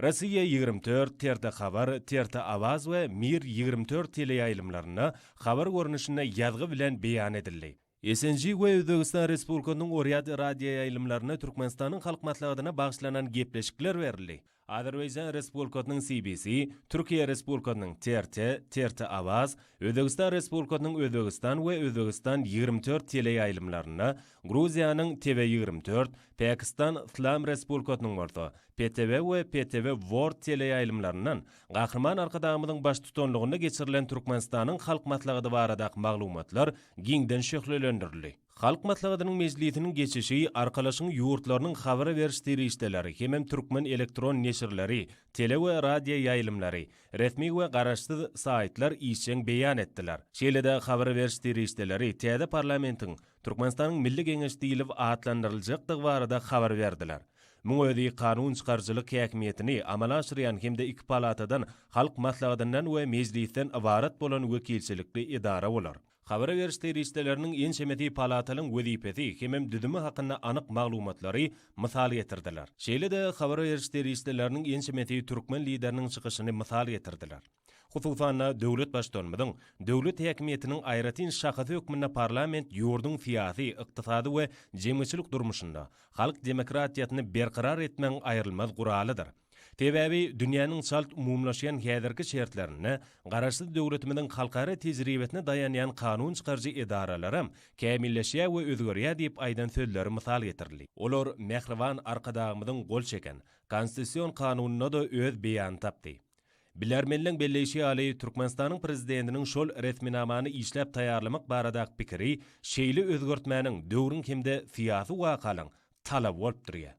Rossiýa ýigrimi dört, TRT Habar, TRT Awaz we Mir ýigrimi dört teleýaýlymlarynda habar görnüşinde ýazgy bilen beýan edildi. SNG we Özbegistan Respublikasynyň Oryad radioýaýlymlarynda Türkmenistanyň Halk Maslahatyna bagyşlanan gepleşikler berildi. Azerbaýjan Respublikasynyň CBC, Türkiýe Respublikasynyň TRT, TRT Awaz, Özbegistan Respublikasynyň Özbegistan we Özbegistan ýigrimi dört teleýaýlymlarynda, Gruziýanyň TV ýigrimi dört, Pakistan Yslam Respublikasynyň bolsa, PTV we PTV World teleýaýlymlaryndan Gahryman Arkadagymyzyň baştutanlygynda geçirilen Türkmenistanyň Halk Maslahady baradaky maglumatlar giňden şöhlelendirildi. Halk Maslahatynyň mejlisiniň geçişi Arkalaşygyň ýurtlarynyň habar beriş serişdeleri hemem türkmen elektron neşirleri, tele we radio ýaýlymlary, resmi we garaşsyz saýtlar işjeň beýan etdiler. Şeýle-de habar beriş serişdeleri täze parlamentiň Türkmenistanyň Milli Geňeşi diýlip atlandyryljakdygy barada habar berdiler. Muň özi kanun çykaryjylyk häkimiýetini amala aşyrýan hem-de iki palatadan, Halk Maslahatyndan we Mejlisden ybarat bolan wekilçilikli edara bolar. Habar beriş serişdeleriniň ençemesi palatalyň wezipesi hemem düzümi hakynda anyk maglumatlary mysal getirdiler. Şeýle-de habar beriş serişdeleriniň ençemesi türkmen Lideriniň çykyşyny mysal getirdiler. Hususan-da, döwlet Baştutanymyzyň döwlet häkimiýetiniň aýratyn şahasy hökmünde parlament ýurduň syýasy, ykdysady we jemgyýetçilik durmuşynda halk demokratiýasyny berkarar etmegiň aýrylmaz guralydyr. Sebäbi dünýäniň çalt umumylaşýan häzirki şertlerinde Garaşsyz döwletimiziň halkara tejribesine daýanýan kanun çykaryjy edaralaram kämilleşýär we özgerýär diýip aýdan sözleri mysal getirildi. Olar mähriban Arkadagymyzyň gol çeken Konstitusion Kanunynda-da öz beýanyny tapdy. Bilermenleň belleýşi ýaly, Türkmenistanyň Prezidentiniň şol resminamany işläp taýýarlamak baradaky pikiri şeýle özgertmäniň döwrüň hem-de syýasy wakalaryň talaby bolup durýar.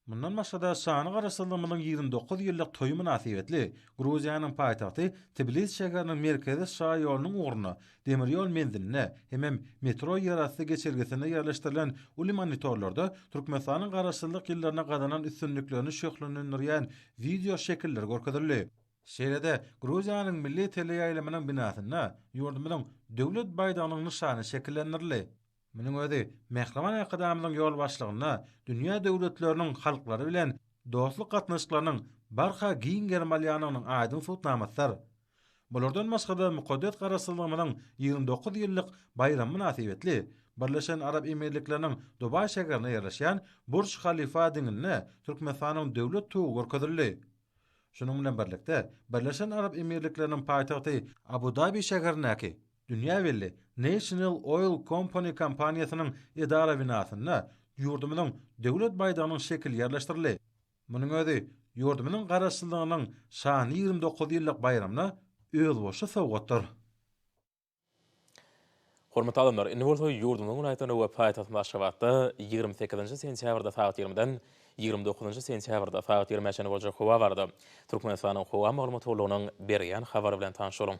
Mundan başga-da, şanly Garaşsyzlygymyzyň ýigrimi dokuz ýyllyk toýy mynasybetli Gruziýanyň paýtagty Tbilisi şäheriniň merkezi şaýolunyň ugrunda Demir ýol menzilinde hemem metro ýerasty geçelgesinde ýerleşdirilen uly monitorlarda Türkmenistanyň Garaşsyzlyk ýyllarynda gazanan üstünliklerini şöhlelendirýän wideo şekiller görkezildi. Şeýle-de Gruziýanyň milli teleýaýlymynyň binasynda ýurdumyzyň Döwlet baýdagynyň nyşany şekillendirildi. Munuň özi Mähriban Arkadagymyzyň ýolbaşçylygynda dünýä döwletleriniň halklary bilen dostluk gatnaşyklarynyň barha giň gerim alýandygynyň aýdyň subutnamasydyr. Bulardan başga-da mukaddes Garaşsyzlygymyzyň ýigrimi dokuz ýyllyk baýramy mynasybetli Birleşen Arap Emirlikleriniň Dubaý şäherinde ýerleşýän Burj Halifa diňinde Türkmenistanyň Döwlet tugy görkezildi. Şunuň bilen birlikde, Birleşen Arap Emirlikleriniň paýtagty Abu-Dabi şäherindäki dünýä belli National Oil Company kompaniýasynyň edara binasynda ýurdumyzyň Döwlet baýdagynyň şekili ýerleşdirildi. Munuň özi ýurdumyzyň Garaşsyzlygynyň şanly ýigrimi dokuz ýyllyk baýramyna özboluşly sowgatdyr. Hormatly adamlar, indi bolsa ýurdumyzyň welaýatlarynda we paýtagtymyz Aşgabatda ýigrimi sekizinji sentýabrda sagat ýigrimidan ýigrimi dokuzynjy sentýabrda sagat ýigrimi çenli boljak howa barada Türkmenistanyň howa maglumat gullugynyň berýän habary bilen tanyş boluň.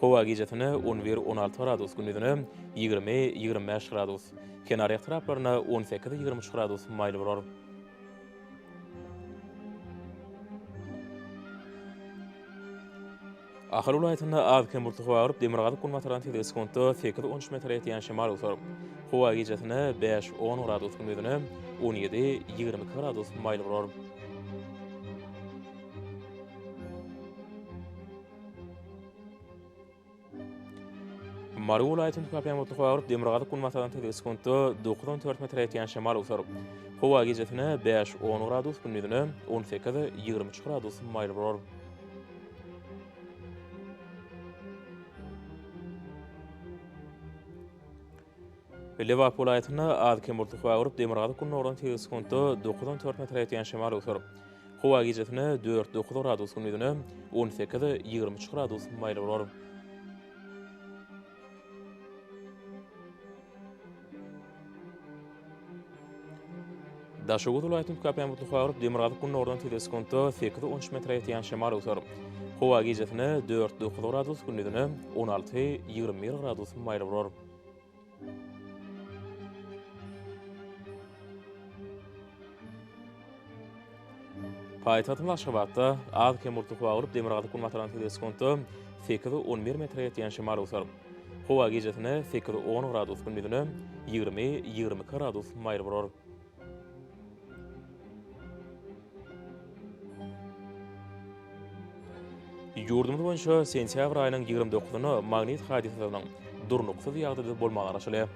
Howa gijesine on bir, on alty gradus, gündizine ýigrimi, ýigrimi bäş gradus. Kenarýak taraplaryna on sekiz, ýigrimi üç gradus maýyl bolar. Ahal welaýatynda az-kem bulutly howa agyryp, demirgazyk-günbatardan tizligi sekuntda sekiz, on üç metre ýetýän şemal eser. Howa gijesine bäş, on gradus, gündizine on ýedi, ýigrimi iki gradus maýyl bolar. Mary welaýatynda päpemutly howa urup, demirgazyk-günbatardan tizgi sekuntda dokuz on dört metre ýetýän şemal öwser. Howa gijesine bäş on gradus, gündizine on sekiz ýigrimi üç gradus maýyl bolar. Lebap welaýatynda az-kem bultly howa gurup, demirgazyk-gündogardan sekiz sekuntda dokuz on dört metre ýetýän şemal öwser. Howa gijesine dört, dokuz gradus, gündizine on sekiz, ýigrimi üç gradus maýyl bolar. Daşoguz welaýatynyň tükapemutly howaryp, demirgazyk-gündogardan tizligi sekuntda sekiz on üç metre ýetýän şemal öwser. Howa gijesine dört dokuz gradus, gündizine on alty ýigrimi bir gradus maýyl bolar. Paýtagtymyz Aşgabatda az-kem bulutly howa bolup, demirgazyk-günbatardan tizligi sekuntda sekiz, on bir metre ýetýän şemal öwser. Howa gijesine sekiz, on gradus, gündizine ýigrimi, ýigrimi iki gradus maýyl bolar. Ýurdumyz boýunça sentýabr aýynyň ýigrimi dokuzyna magnit hadysasynyň durnuksyz ýagdaýda bolmagy garaşylýar.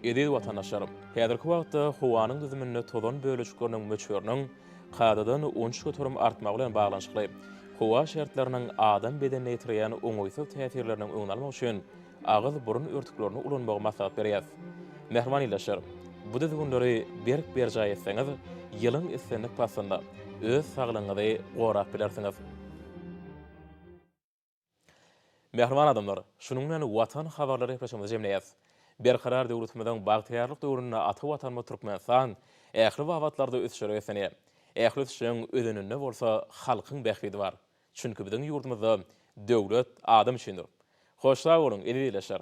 Eziz watandaşlarym! Häzirki wagtda howanyň düzüminde tozan bölejikleriniň möçberiniň kadadan onç göterim artmagy bilen baglanyşykly, howa şertleriniň adam bedenine ýetirýän oňaýsyz täsirleriniň öňüni almak üçin agyz-burun örtüklerini ulanmagy maslahat berýäs. Mähriban ildeşler! Bu düzgünleri berk berjaý etseňiz, ýylyň islendik paslynda öz saglygyňyzy gorap bilersiňiz. Mähriban adamlar, şunuň bilen Watan habarlary gepleşigimizi jemleýäs. Berkarar döwletimiziň bagtyýarlyk döwründe ata Watanymyz Türkmenistan ähli babatlarda ösüşlere beslenýär. Ähli ösüşiň özeninde bolsa halkyň bähbidi bar. Çünki biziň ýurdumyzda döwlet adam üçindir. Hoş sag boluň, eziz ildeşler!